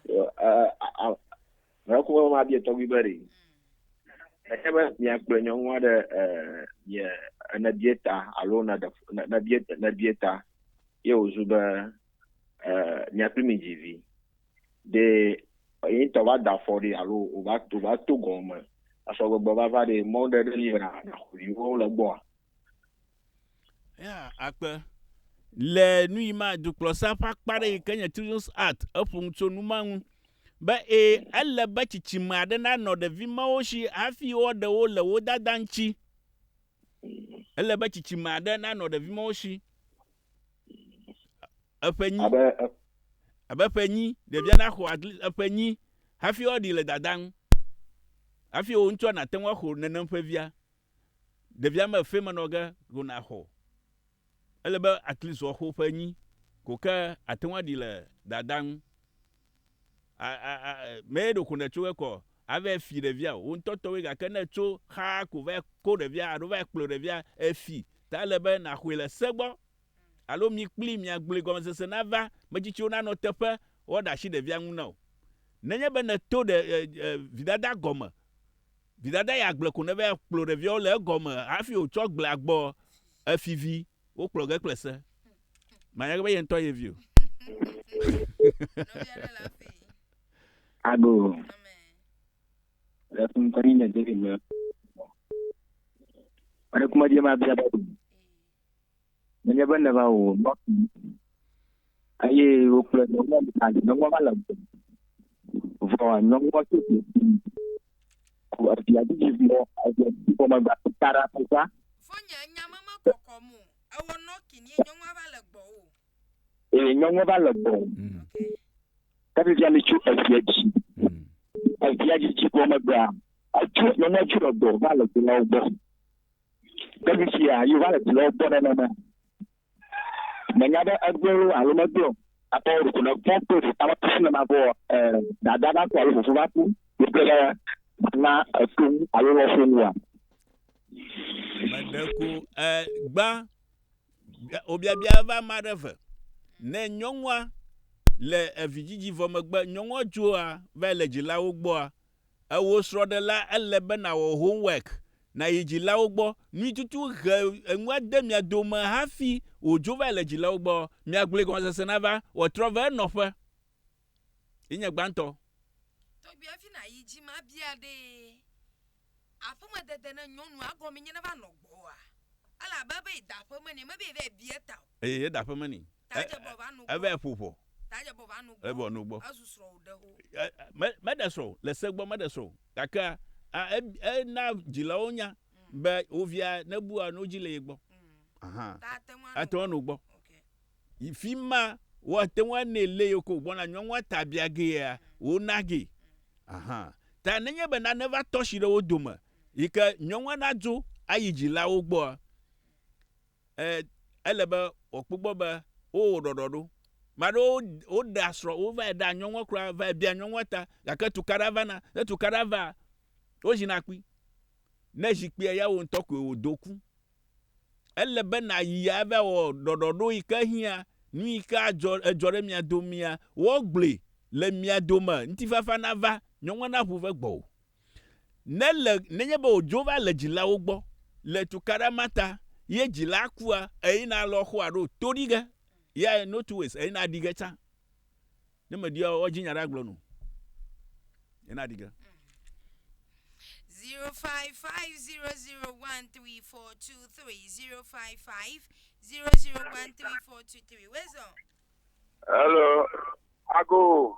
Mekɔ mɔ ma bia tɔgbi be ɖi. Eke be miakplɔ nyɔnu aɖe ye ne bia ta alo ne ɖe ne bia ne bia ta ye wòzu be miakpli mi dzi vi. Ɖe yeŋtɔ va da afɔ ɖi alo wòva wòva to gɔme asɔ gbegbe vava ɖi mɔ ɖe ɖe li be na naxɔ viwo le egbɔa? Ya akpe. Le nu yi ma dukplɔsa ƒe akpa ɖe yi ke nye Children's Act eƒo nu tso nu ma ŋu be ee ele be tsitsime aɖe nanɔ ɖevi mawo si hafi woaɖe wo le wo dada ŋuti. Ele be tsitsime aɖe nanɔ ɖevi mawo si. Eƒe nyi. Abe abe ƒe nyi, ɖevia naxɔ agli eƒe nyi hafi woaɖi le dada ŋu. Hafi wò ŋutsua nàte ŋu axɔ nenem ƒe via. Ɖevia mefe me nɔ ge ko nàxɔ. Ele be aklizɔxo ƒe nyi ko ke àte ŋu aɖi le dada ŋu. a a a me ɖoko ne tso ekɔ ave fi ɖevia wo ŋutɔ tɔwoe gake ne tso xaa ko va ko ɖevia alo va kplɔ ɖevia efi ta le be naxɔe le se gbɔ alo mi kpli miagblɔe gɔmesese nava metsitsiwo nanɔ teƒe woaɖe asi ɖevia ŋu na o nenye be nèto ɖe e, e, vidada gɔme Vidada ya gblɔe ko neva kplɔ ɖeviawo le egɔme hafi wòtsɔ gblea gbɔ efivi wokplɔ ge kple se. Manya gbe be ye ŋutɔ ye vi o. Ago le fun kɔni le David me. Ɔre kuma je ma bia ba. Nenye be nèva wò nɔƒi eye wokplɔe nɔ mɔ me ale nyɔnua va le gbɔ. Vɔ nyɔnua tso fi ku evia didi vɔ evia didi vɔ megba ta ɖa kpɔtɔa. Vɔ nye nya me mekɔkɔ mo. Ewɔ nɔ kin ye nyɔnua va le gbɔ o. Eye nyɔnua va le gbɔ. Ke vivia mi tso evia didi. Evia didi vɔ megba. Atso nyɔnua tso le gbɔ va le gbɔ gbɔ. Ke fifia yeva le dulɔwo gbɔ nenema. Menya be egblɔwo alo megblɔ akpɔ ɖoku ne fɔ kple ɖeka va kusi nema vɔ ɛ dada va ku alo fofo va ku wokpe ɖe na eto ŋu alo lɔ fo ŋua. Meɖe ku ɛ gbã obiabia va ma ɖe ve. Ne nyɔnua le evidzidzi vɔ megbe nyɔnua dzoa va le dzilawo gbɔa Ewò srɔ̃ɖela, ele be nàwɔ homework, nàyi dzilawo gbɔ. Nui tutu ʋe enu ade mia dome hafi wòdzo va le dzilawo gbɔ? Miagblɔe gɔmesese nava wòatrɔ va enɔƒe. Yi nye gbãtɔ. Tɔgbi hafi nàyi dzi me abia ɖee, Aƒemedede ne nyɔnua gɔmee nye neva nɔ gbɔwòa? Ele abe ebe yi da aƒeme nɛ, mebe yevae bia eta o. Eye yeda aƒeme nɛ. Evae ƒo ʋɔ. Evɔ nu gbɔ. Meɖe srɔ̃ o, le se gbɔ meɖe srɔ̃ o. Gakea ena dzilawo nya be wo via nebua nu dzi le ye gbɔ. Ahan. Ate ŋu anu gbɔ. Yi fi ma woate ŋu anɛ le ye ko gbɔna nyɔnua ta bia gea, wona ge. Ahan. Ta nenye be nane va tɔshi ɖe wo dome yi ke nyɔnua nadzo ayi dzilawo gbɔa, e, ele be wòakpɔ gbɔ be wowɔ ɖɔɖɔ ɖo. Ame aɖewo woɖea srɔ̃, wovae ɖea nyɔnua kura, vae bia nyɔnua ta, gake tukaɖa vana. Ne tukaɖa vaa, wozina kpi. Ne zi kpia ya wò ŋutɔ koe wòdo ku. Ele be nàyi ava wɔ ɖɔɖɔ ɖo yi ke hiã, nu yi ke adzɔ, edzɔ ɖe mia domea, woagblɔe le mia dome, ŋutifafa nava, nyɔnua naʋu ve gbɔwò. Ne le, nenye be wòdzo va le dzilawo gbɔ le tukaɖa ma ta ye dzilaa kua, eyina lɔ xoa ɖo to ɖi ge, ya ye no two ways, eyina ɖi ge tsã. Ne meɖia o, woadzi nya ɖe agblɔ nu. Yina ɖi ge. 0550013423 0550013423 Wezɔ. Hello, Ago.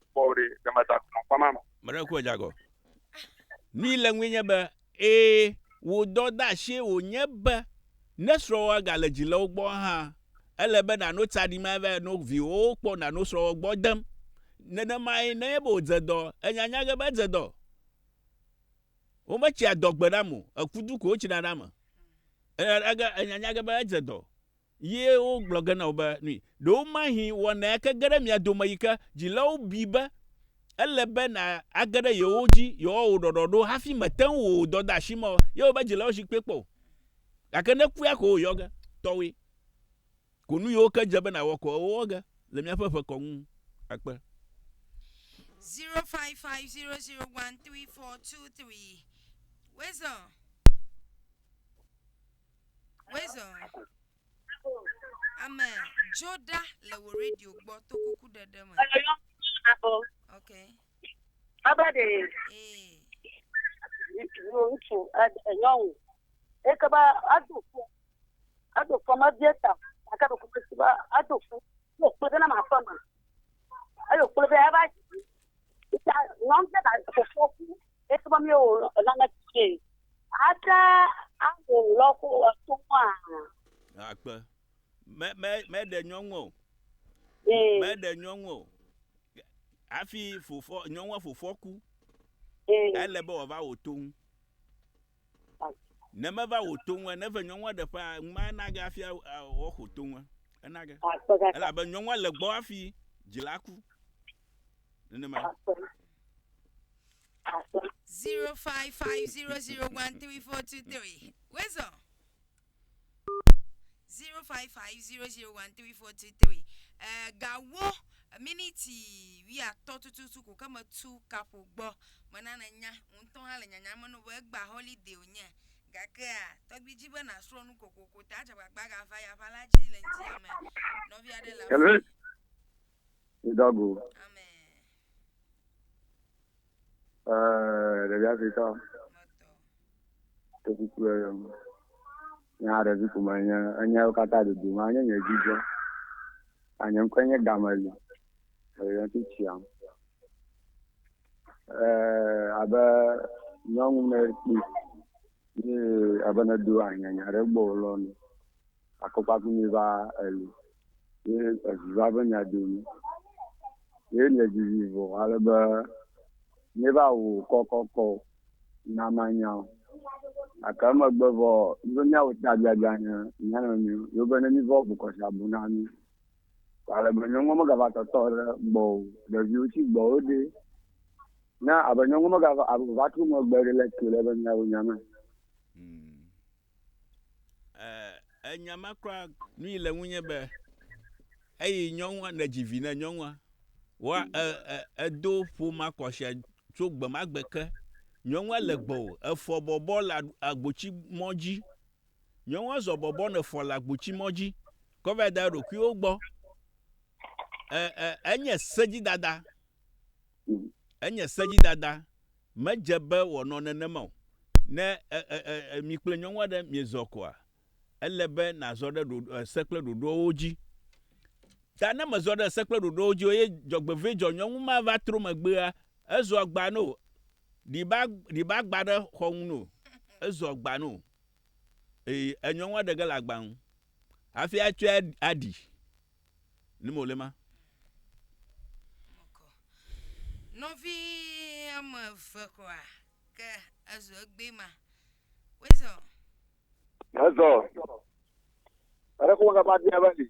kpɔwò ɖe ne meda ku nɔ kpɔma me. Mele ku edza gɔ. Nui le ŋue nye be, ee, wò dɔdeasie wònye be ne srɔ̃wòa gale dzi le wo gbɔ hã, ele be nàno tsaɖim ava no viwòwo kpɔ nàno srɔ̃wòa gbɔ dem. Nenemae nenye be wòdze dɔ, ènya nya ge be edze dɔ. Wometsia dɔ gbe nam o, ekudu ko wotsina ɖe ame. Ènya nya ge, ènya nya ge be edze dɔ. Ye wogblɔ ge na wo be, Nui, ɖe womahi wɔna ya ke ge ɖe mia dome yi ke dzilawo bui be ele be nàage ɖe yewo dzi yewoawɔ wò ɖɔɖɔɖo hafi mète ŋu wò dɔdeasi me o. Ye wòbe, Dzilawo zi kpe kpɔ o, gake ne kua ko wòyɔ ge, tɔwòe ko nu yiwo ke dze be nàwɔ ko wowɔ ge le míaƒe ʋe kɔ ŋu akpe. Zero five five zero zero one three four two three Weasel. Wezɔ. Ame dzo ɖa le wò radio gbɔ to kuku ɖeɖe me. Ok. Aba ɖe. Ee. Ŋutsu nyɔnu. Eke ba ado fɔ. Ado fɔ ma bia ta. Aka ɖe kuku si ba ado fɔ. Yo kpe ɖe na ma fɔ ma. Ayo kpe ɖe aba. Ita nyɔnu ɖe ba fɔ fɔ. Esubɔ mi o lana tse. Ata awo lɔ ko eto wa. Akpe. Me me me ɖe nyɔnu o. Ee. Me ɖe nyɔnu o. Afi fofo nyɔnua fofo ku. Ee. Ele be wava wo to ŋu. Ne me va wò to ŋue, ne ve nyɔnua ɖe ƒe a, ŋma enage afi a- a- woaxo to ŋue. Enage. Akpɔ ɖa. Elabe nyɔnua le gbɔ afi dzila ku. Nenema. Akpɔ. Akpɔ. 0550013423. Wezɔ. zero five five zero zero one three four two three ɛɛ gawo miniti wuiatɔ̃ tututu ko ke metu kaƒo gbɔ mena nènya wò ŋutɔ hã le nyanya me ne be egbea holiday wònye gakea tɔgbi dzi be nàsrɔ̃ nu kokoko ta adze agbagba agava yeaƒe la dzi le ŋutia me nɔvi aɖe le Hello. afii Idago. ame Eh, ɖevi Afrika. Te kuku le yɔm. Nya ɖevi ko me nye enyawo katã dodo ma nye nye dzidzɔ. Anye ŋkɔ nye Gameli. Eyɔ ti tsiam. Eh, abe nyɔnu ne kpi. Ye abe ne do anya nya ɖe gbɔ lɔ ni. Akɔfafi mi va eli, ye evi va be nya do mi. Ye mi edzi vi vɔ ale be mi va wu kɔkɔkɔ o, na ma nya o. Gake emegbe vɔ mi be mia wu ta biabia ne mia nɔ nɔe o, ye be ne mi vɔ bu kɔ sia bu na mi. Ale be nyɔnua me ga va tɔtɔ ɖe gbɔ o, ɖeviwo tsi gbɔ wo ɖe. Ne abe nyɔnua me ga va trɔ megbe ɖe le ke le be mia wu nya me. Eh, enya ma kura nui le ŋunye be eyi nyɔnua ne dzi vi ne nyɔnua wa edo e, e ƒoma kɔsia tso gbemagbe ke nyɔnua le gbɔ o efɔ bɔbɔ le agbotsi mɔ dzi nyɔnua zɔ bɔbɔ ne fɔ le agbotsi mɔ dzi kɔva da ɖokuiwo gbɔ e, e, enye sedzidada Enye sedzidada. Medze be wòanɔ nenema o. Ne mi kple nyɔnu aɖe miezɔ koa, ele be nàzɔ ɖe se kple ɖoɖoawo dzi. Ta ne mèzɔ ɖe se kple ɖoɖoawo dzi o eye dzɔgbevɔ̃e dzɔ nyɔnu ma va tro megbea, ezɔ agba no. Ɖiba, ɖiba agba ɖe xɔ ŋu no. Ezɔ agba no. Ee, enyɔnua ɖe ge le agba ŋu hafi atsɔe aɖi. Ni me wòle ma? Mekɔ. Nɔvi ame eve kura ke ezo egbe ma. Wezɔ. Ezɔ. Ere ko ga ba dia ba si.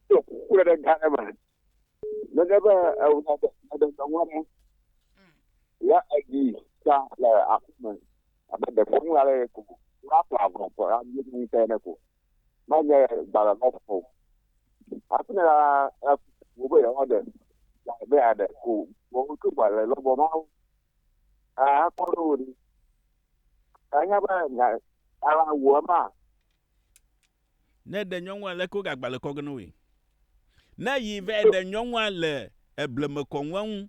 To ku le ga ne ma. Ne ga ba e u na de de de wa mo. Ya agi ta le aku me. Abe de ko mu ale ko. Ra pa ko ko ra ni ni te ne ko. menye gbalẽ ma fɔ o. Hafi ne la, wò be yewoaɖe gbalẽ be yeaɖe ko wòawo tso gbalẽ lɔbɔ ma ŋu. Akpɔ ɖe wò ɖi. Ènya be nya ala wò ema. Ne ɖe nyɔnua le ko gagbalẽ kɔ ge ne woe. Ne yi va ɖe nyɔnua le ebleme kɔ ŋua ŋu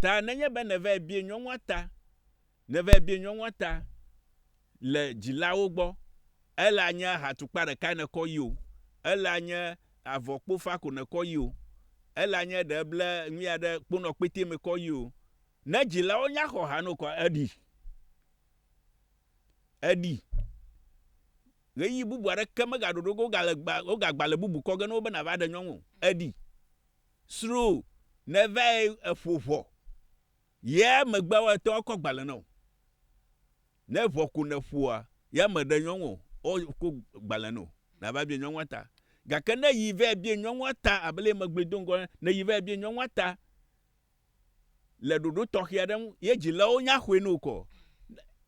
Ta nenye be nèvae bie nyɔnua ta, nèvae bie nyɔnua ta le dzilawo gbɔ, ele anye ahatukpa ɖekae nèkɔ yi o, ele anye avɔ kpofa ko nèkɔ yi o, ele anye ɖe ble nuya ɖe kponɔ kpete me kɔ yi o, ne dzilawo nya xɔ ha no kɔa, eɖi. Eɖi. Ɣeyiɣi bubu aɖeke megaɖo ɖo ge wogale gba, wogagba le bubu kɔ ge na wò be nàva ɖe nyɔnu o. Eɖi. Sroo ne vae eƒo ʋɔ ye megbe wa etɔ kɔ gbalẽ nɔ o. Ne ʋɔ ko ne ƒoa ya me ɖe nyɔŋ o ɔ ko gbalẽ nɔ na va bie nyɔŋua ta. Gake ne yi vae bie nyɔŋua ta abe le megblɔe do ŋgɔ ne yi vae bie nyɔŋua ta le ɖoɖo tɔxe aɖe ŋu ye dzilawo nya xɔe no kɔ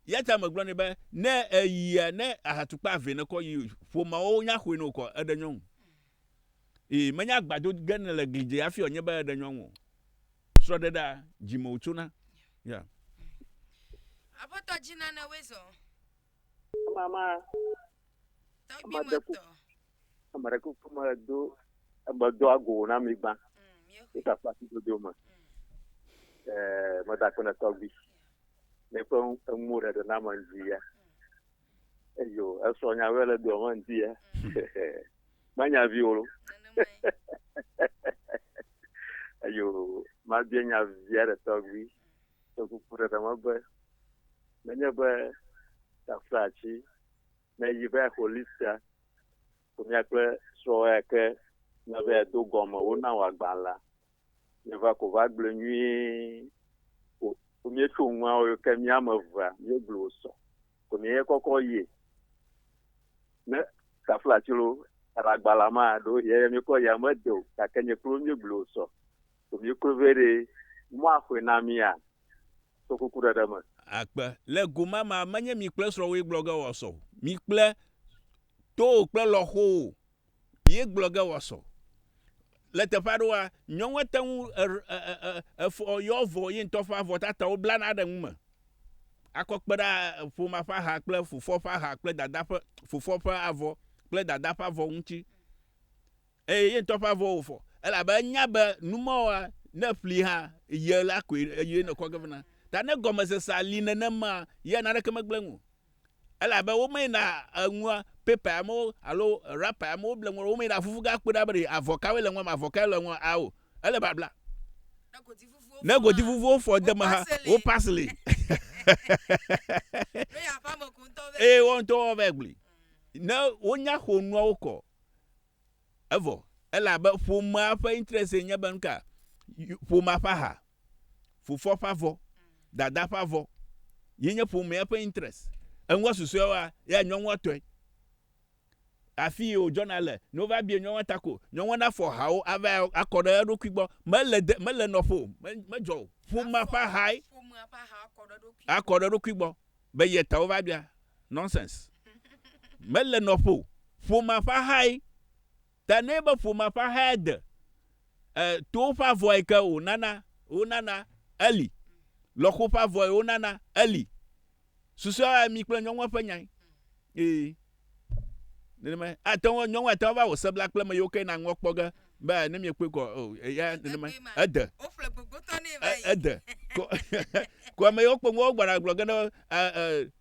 yata me gblɔ ne be ne eyia ne ahatukpa ve ne kɔ yi ƒomawo nya xɔe no kɔ eɖe nyɔŋ. Ee, menye agbado ge nèle gli dze hafi wòanye be èɖe nyɔnu o. Srɔ̃ɖeɖea, dzi me wòtsona. Ya. Aƒetɔ dzi nanewoe zɔ. Ema ma. Tɔgbime tɔ. Ame ɖe kuku medo medo ago na mi gbã. Wota mm, kpasi dodo me. Ɛɛ, mm. eh, meda kpe ne tɔgbi. Míaƒe eŋuwo ɖeɖe na me dzi ya. Eyo, esɔ nya vɛ le dua me ŋuti ya. Manya vi wolo. Eyo, mabia nya via ɖe tɔgbi. Tɔ kuku ɖe ɖe megbe. Menye be taflatsi, ne yi be holistia, Ƒomea kple srɔ̃wòa ke na be yeado gɔme wona wò agbalẽ la, míeva ko va gblɔe nyuie ko. Ko míetso nua wò ke mía ame evea míegblɔ wò sɔ ko míeye kɔkɔ yie. Ne tafla tsro le agbalẽa mea, ɖewo hĩ eye míekɔ yia mede o, gake nye kple wò míegblɔ wò sɔ ko míeklo vɛ ɖe mɔ axɔe na mía to kukuɖeɖe me. Akpe. Le go ma mea, menye mi kple srɔ̃wòe gblɔ ge wòasɔ o. Mi kple To wò kple lɔxowò ye gblɔ ge wòasɔ. Le teƒe aɖewoa, nyɔnu ate ŋu efɔ ye avɔ, ye ŋutɔ ƒe avɔ tatawo blana ɖe nu me akɔ kpe ɖe ƒomea ƒe aha kple fofoa ƒe aha kple dadaa ƒe, fofoa ƒe avɔ kple dadaa ƒe avɔ ŋuti. Eye ye ŋutɔ ƒe avɔ wòfɔ elabe enya be nu mawoa, ne eƒli hã, ye la koe, eye nèkɔ ge vena. Ta ne gɔmesesea li nenemaa, ye naneke megblẽ nu o. elabe wo me yina enua paper ya me wo alo wrapper ya me wo ble nua wo me yina fufu ga kpɔe ɖa be ɖe avɔ kawoe le nua me avɔ kae le nua a o ele babla ne godi fufu wo fɔ de me ha wo pasili eye wo ŋutɔ wo vɛ gbli ne wonya xo nuawo kɔ evɔ elabe ƒomea ƒe interest nye be nuka ƒomea ƒe aha fofoa ƒe avɔ, dadaa ƒe avɔ, ye nye ƒomea ƒe interest. Eŋua susɔewoa, ya nyɔnua tɔe. Afi yi wòdzɔna le, ne wova bia nyɔnua ta ko, nyɔnua nafɔ hawo ava akɔ ɖe eɖokui gbɔ. Mele de, mele nɔƒe o, me, medzɔ o. Ƒomea ƒe ahae akɔ ɖe eɖokui gbɔ be ye ta wova bia. Nonsense. Mele nɔƒe o. Ƒomea ƒe ahae. Ta nɛ be ƒomea ƒe ahae de e towo ƒe avɔe ke wònana wonana eli, lɔxo ƒe avɔe wonana eli. Susɔea mi kple nyɔnua ƒe nyae. Ee. Nenemae. Ate ŋu nyɔnua ate ŋu va wò sebla kple meyiwo ke na ŋua kpɔ ge be ne miekpɔe kɔ o eya nenemae. Ede. Woƒle gbogbotɔ nɛ va yi. Ede. Ko ko ameyiwo kpɔ ŋua wogbɔna gblɔ ge ne e e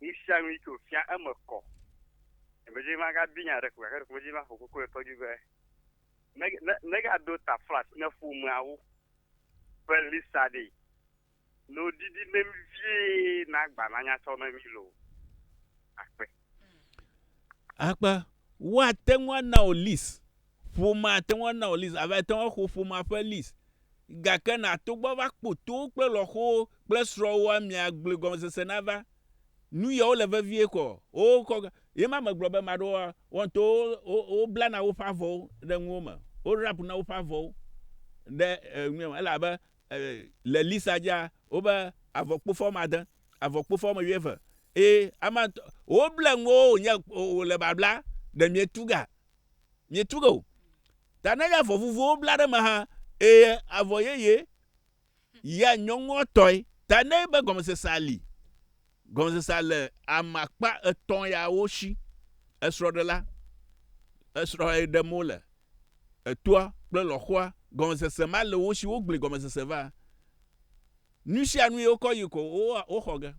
Nu sia nu yi ke wòfia eme kɔ. Ɖemevi ma gabi nya aɖe ko gake ɖemevi ma ƒo koko ɖe tɔ dzi be, me, me, megado taflash ne ƒomeawo ƒe list aɖee. Ne wodidi ne mi vie na agba nanya tsɔ ne mi loo. Akpe. Akpe. Woate ŋu ana wò list Ƒomea ate ŋu ana wò list ava ate ŋu axo ƒomea ƒe list. Gake nàto gbɔ ava kpo towo kple lɔxowo kple srɔ̃wòa mia gblɔe gɔmesese nava. Nu yawo le vevie kɔ. Wokɔ ga. Ye ma megblɔ be maɖo wa wɔn to wo wo blana woƒe avɔwo ɖe nuwo me. Wo wrap na woƒe avɔwo ɖe e nua me elabe e le lista dzia wobe avɔkpofa wɔme ade, avɔkpofa wɔme wuieve eye ama ŋutɔ woble nuwo wonye wole babla ɖe mietu ga mietu ge o. Ta nenye avɔ vuvuwo bla ɖe eme hã, eye avɔ yeye ya nyɔŋɔtɔe ta nɛ be gɔmesesea li. Gɔmesesea le ame akpa etɔ̃ yawo si, esrɔ̃ɖela, esrɔ̃e ɖem wole, etoa, kple lɔ̃xoa. Gɔmesese ma le wo si wogblẽ gɔmesese va. Nusianui wokɔ yi ko woxɔ ge.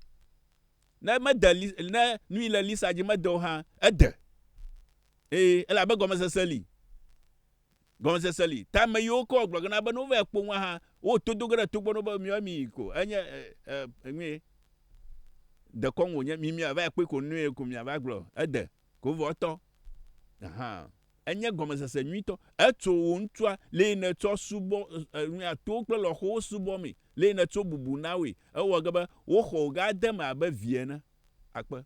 Ne mede li, ne nui le Lisa dzi mede o hã, ede. Ee, elabe gɔmesese li. Gɔmesese li. Ta ame yiwo ke wògblɔ ge na be ne wova kpɔ nua hã, wotodo ge ɖe togbɔ na wo be miɔ mi ko. Enye e, e, nue. Dekɔnu wònye, mi miava kpɔe ko nue ko miava gblɔ. Ede. Kovɔtɔ hã enye gɔmesese nyuitɔ. Etso wò ŋutsua, le yi nètsɔ subɔ enuya to kple lɔxowo subɔ mee, le yi nètso bubu na woe. Ewɔ ge be woxɔ wò gã de eme abe vi ene. Akpe.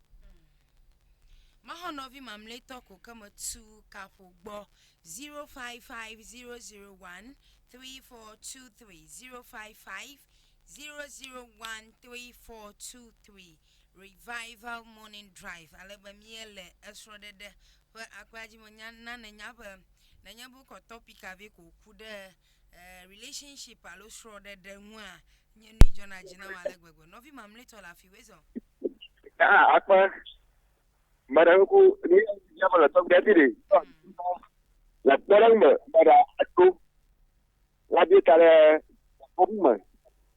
Mexɔ nɔvi mamlɛtɔ ko ke metu kaƒo gbɔ 0550013423 0550013423. Revival Morning Drive ale be míele esrɔ̃ɖeɖe ƒe akpea dzi me. Nya na nènya be nenye be wokɔ topic aɖe ko ku ɖe eh, relationship alo srɔ̃ɖeɖe ŋua, nye nui dzɔna dzi nam ale gbegbe. Nɔvi mamlɛtɔ le afi wezɔ. Ah, akpa. Mara ku ni ya mala to gati de. La tara me mara ato. La bi tara ko me.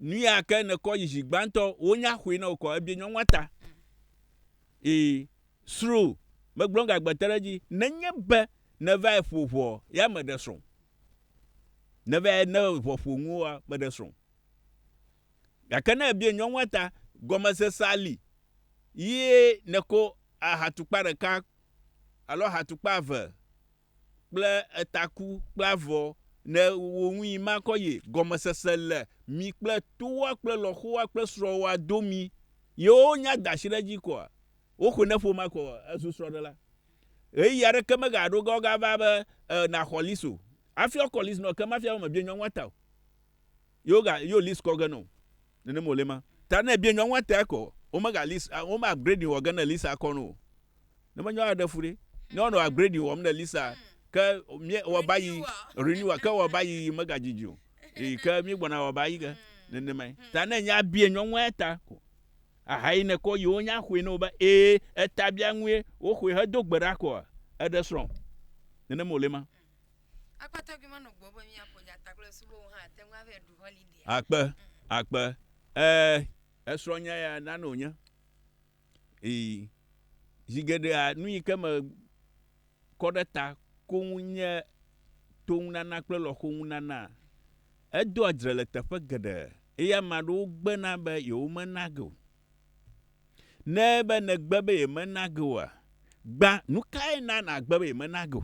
Nuya ke nèkɔ yi zi gbãtɔ, wonya xoe na wò kɔ ebie nyɔnua ta. Eye srũ megblɔ nu gagbe te ɖe edzi. Nenye be nèvae ƒo ʋɔ ya meɖe srɔ̃ o. Nèvae ne ʋɔ ƒo ŋuwòa, meɖe srɔ̃ o. Gake ne èbie nyɔnua ta, gɔmesese ali ye nèko ahatukpa ɖeka alo ahatukpa eve kple etaku kple avɔ ne wo ŋui makɔ ye gɔmesese le mi kple towoa kple lɔxowoa kple srɔ̃woa domi yewo nya da shi ɖe dzi kɔa wo xɔe ne ƒoma kɔ ezu srɔ̃ɖela ɣeyiɣi aɖeke me ga ɖo ga wo ga va be e na xɔlis o afi ɔkɔlis nɔ ke ma fia be me biɛ nyɔnua ta o. Yo ga yo list kɔ ge no. Nene mo le ma. Ta ne bie nyɔ ŋwa te ko. O me ga list o me upgrade wɔ ge ne list a kɔ no. Ne me nyɔ a de fure. Nyɔ no upgrade wɔ me ne list a ke mi wɔ ba yi renewal ke wɔ ba yi me ga jiji o. E ke mi gbɔ na wɔ ba yi ge. Nene ma. Ta ne nya bie nyɔ ŋwa ta ko. Aha yi ne kɔ yi o nya xwe no ba e e ta bia ŋwe o xwe he do gbe ra ko a e de srɔn. Nene mo le ma. Akpe, akpe, eh, esrɔ̃nya ya nane wònye. Ii, zi geɖea nu yi ke me kɔ ɖe ta koŋ nye toŋunana kple lɔxoŋunana. Edoa dzre le teƒe geɖe eye ame aɖewo gbena be yewomena ge o. Ne ebe nègbe be yemena ge oa, gbã, nu kae na nàgbe be yemena ge o?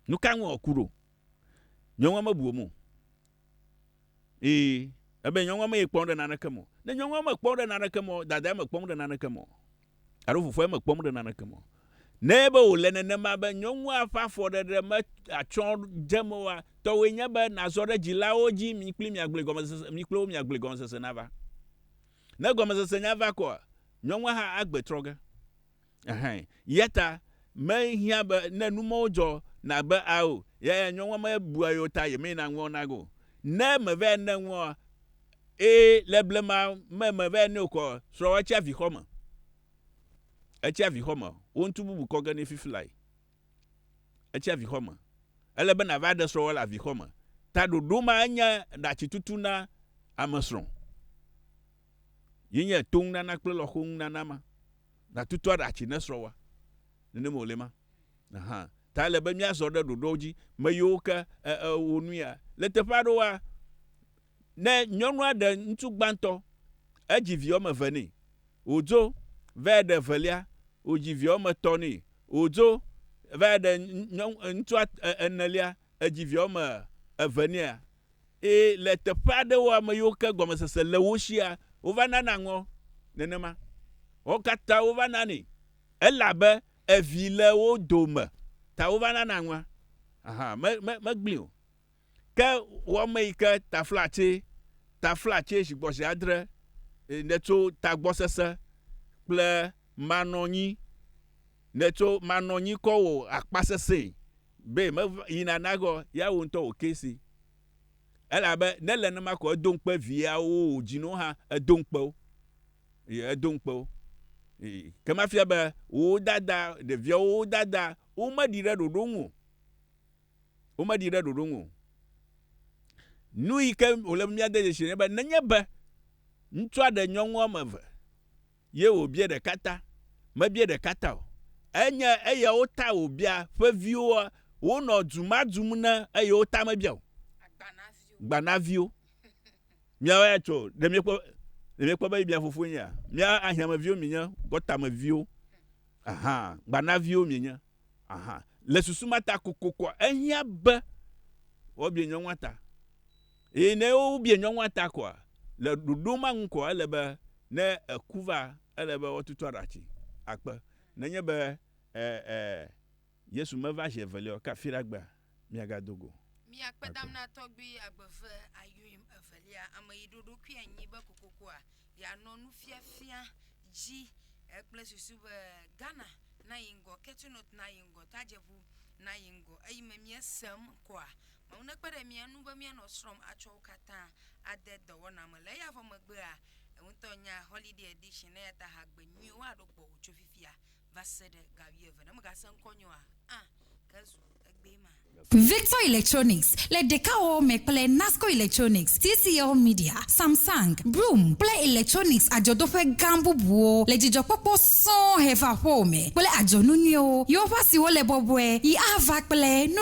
Nuka ŋu wòku ɖo? Nyɔnua mebu wo me o. Ee, ebe nyɔnua mee kpɔm ɖe naneke me o. Ne nyɔnua mekpɔm ɖe naneke me o, dadaa mekpɔm ɖe naneke me o. Alo fofoa mekpɔm ɖe naneke me o. Ne ebe wòle nenema be nyɔnua ƒe afɔɖeɖe meatsɔ dze eme oa, tɔwòe nye be nàzɔ ɖe dzilawo dzi mi kpli miagblɔe gɔmesese, mi kple wo miagblɔe gɔmesese nava. Ne gɔmesese nya va kɔa, nyɔnua hã agbe trɔ ge. Ɛhɛ. Yata mehiã be ne numɔwo dzɔ nabe a o, yaya nyɔnua me bua yo ta yemee na ŋuɔ na go. Ne mevɛ ne ŋuɔ e le blema me mevɛ ne okɔ srɔ̃ etsi avixɔ me. Etsi avixɔ me. Wo ŋtu bubu kɔ ge ne fifi lae. Etsi avixɔ me. Ele be nava ɖe srɔ̃ wɔ le avixɔ me. Ta ɖoɖo ma enye ɖatsi tutu na ame srɔ̃. Ye nye to ŋu nana kple lɔxo ŋu nana ma. Natutu aɖatsi ne srɔ̃ wa. Nenem wòle ma. Aha. Ta ele be míazɔ ɖe ɖoɖoawo dzi. Me yiwo ke e, e, wò nu ya. Le teƒe aɖewoa, ne nyɔnua ɖe ŋutsu gbãtɔ, edzi vi woame eve nɛ. Wòdzo va yi ɖe evelia, wòdzi vi woame etɔ̃ nɛ. Wòdzo va yi ɖe nyɔnu, ŋutsua e, enelia, edzi vi woame eve nɛ. Ee, le teƒe aɖewo ame yiwo ke gɔmesese le wo sia, wova nana ŋɔ nenema. Wo katã wova nanɛ. Elabe evi le wo dome ta wova nana ŋɔa. Aha, me, me, megblẽe o. Ke wɔme yi ke taflatse, taflatse zigbɔzi adre e, nètso tagbɔsese kple manɔnyi, nètso manɔnyi kɔ wò akpasesẽe Be meva yina naxɔ yeawo ŋutɔ wò kesi. Elabe ne le nenema ko edo ŋukpe viawo wò dzinuwo hã edo ŋukpe wo. Ye edo ŋukpe wo. Ye ke mafia be wò dada ɖeviawo wò dada wo me ɖi ɖe ɖoɖo ŋu o. Wo me ɖi ɖe ɖoɖo ŋu o. Nu yike wòle be mía de dzesi ne be nenye be ŋutsua ɖe nyɔnu woame eve. ye wòbia ɖeka ta, mebia ɖeka ta o. Enye eyawo ta wòbia ƒe viwoa? Wonɔ du ma dum ne eye wo ta mebia o. Gbanaviwo. Miawo ya tso, ɖe miekpɔ, ɖe miekpɔ be mia fofoe nyea? Mia ahiãmeviwo mienye, gɔtameviwo. Aha, gbanaviwo mienye. Aha. Le susu ma ta kokokoa, ehiã be woabia nyɔnua ta. Eye ne wobie nyɔnua ta koa, le ɖoɖo ma nu koa, ele be ne eku va, ele be woatutu aɖatsi akpe. Nenye be e, e, Yesu meva zi evelia o, ke afi ɖe agbea, miagado go. Mi akpe dam na tɔgbui agbe ve ayoim evelia, ame yi ɖo ɖokui anyi be kokokoa ya nɔ nufiafia dzi e kple susu be Ghana na yi ŋgɔ, Ketunot na yi ŋgɔ, Tadjebu na yi ŋgɔ. Eyi me mie sem koa, Mawu nekpe ɖe mía ŋu be míanɔ srɔ̃m atsɔ wo katã ade dɔwɔna me. Le eya vɔ megbea, eŋutɔ nya Holiday Edition, eya ta hagbe nyuiwo aɖo gbɔwò tso fifia va se ɖe ga wuieve. Ne mègasẽ ŋkɔ nyɔ oa, ã, ke zu egbee ma. Victor Electronics le ɖekawɔwɔ me kple Nasco Electronics, TCL Media, Samsung, Broom kple Electronics adzɔdoƒe gã bubuwo le dzidzɔkpɔkpɔ sɔŋ he va aƒewò me kple adzɔnu nyuiwo, yewoƒe asiwo le bɔbɔe yi ava kple nu.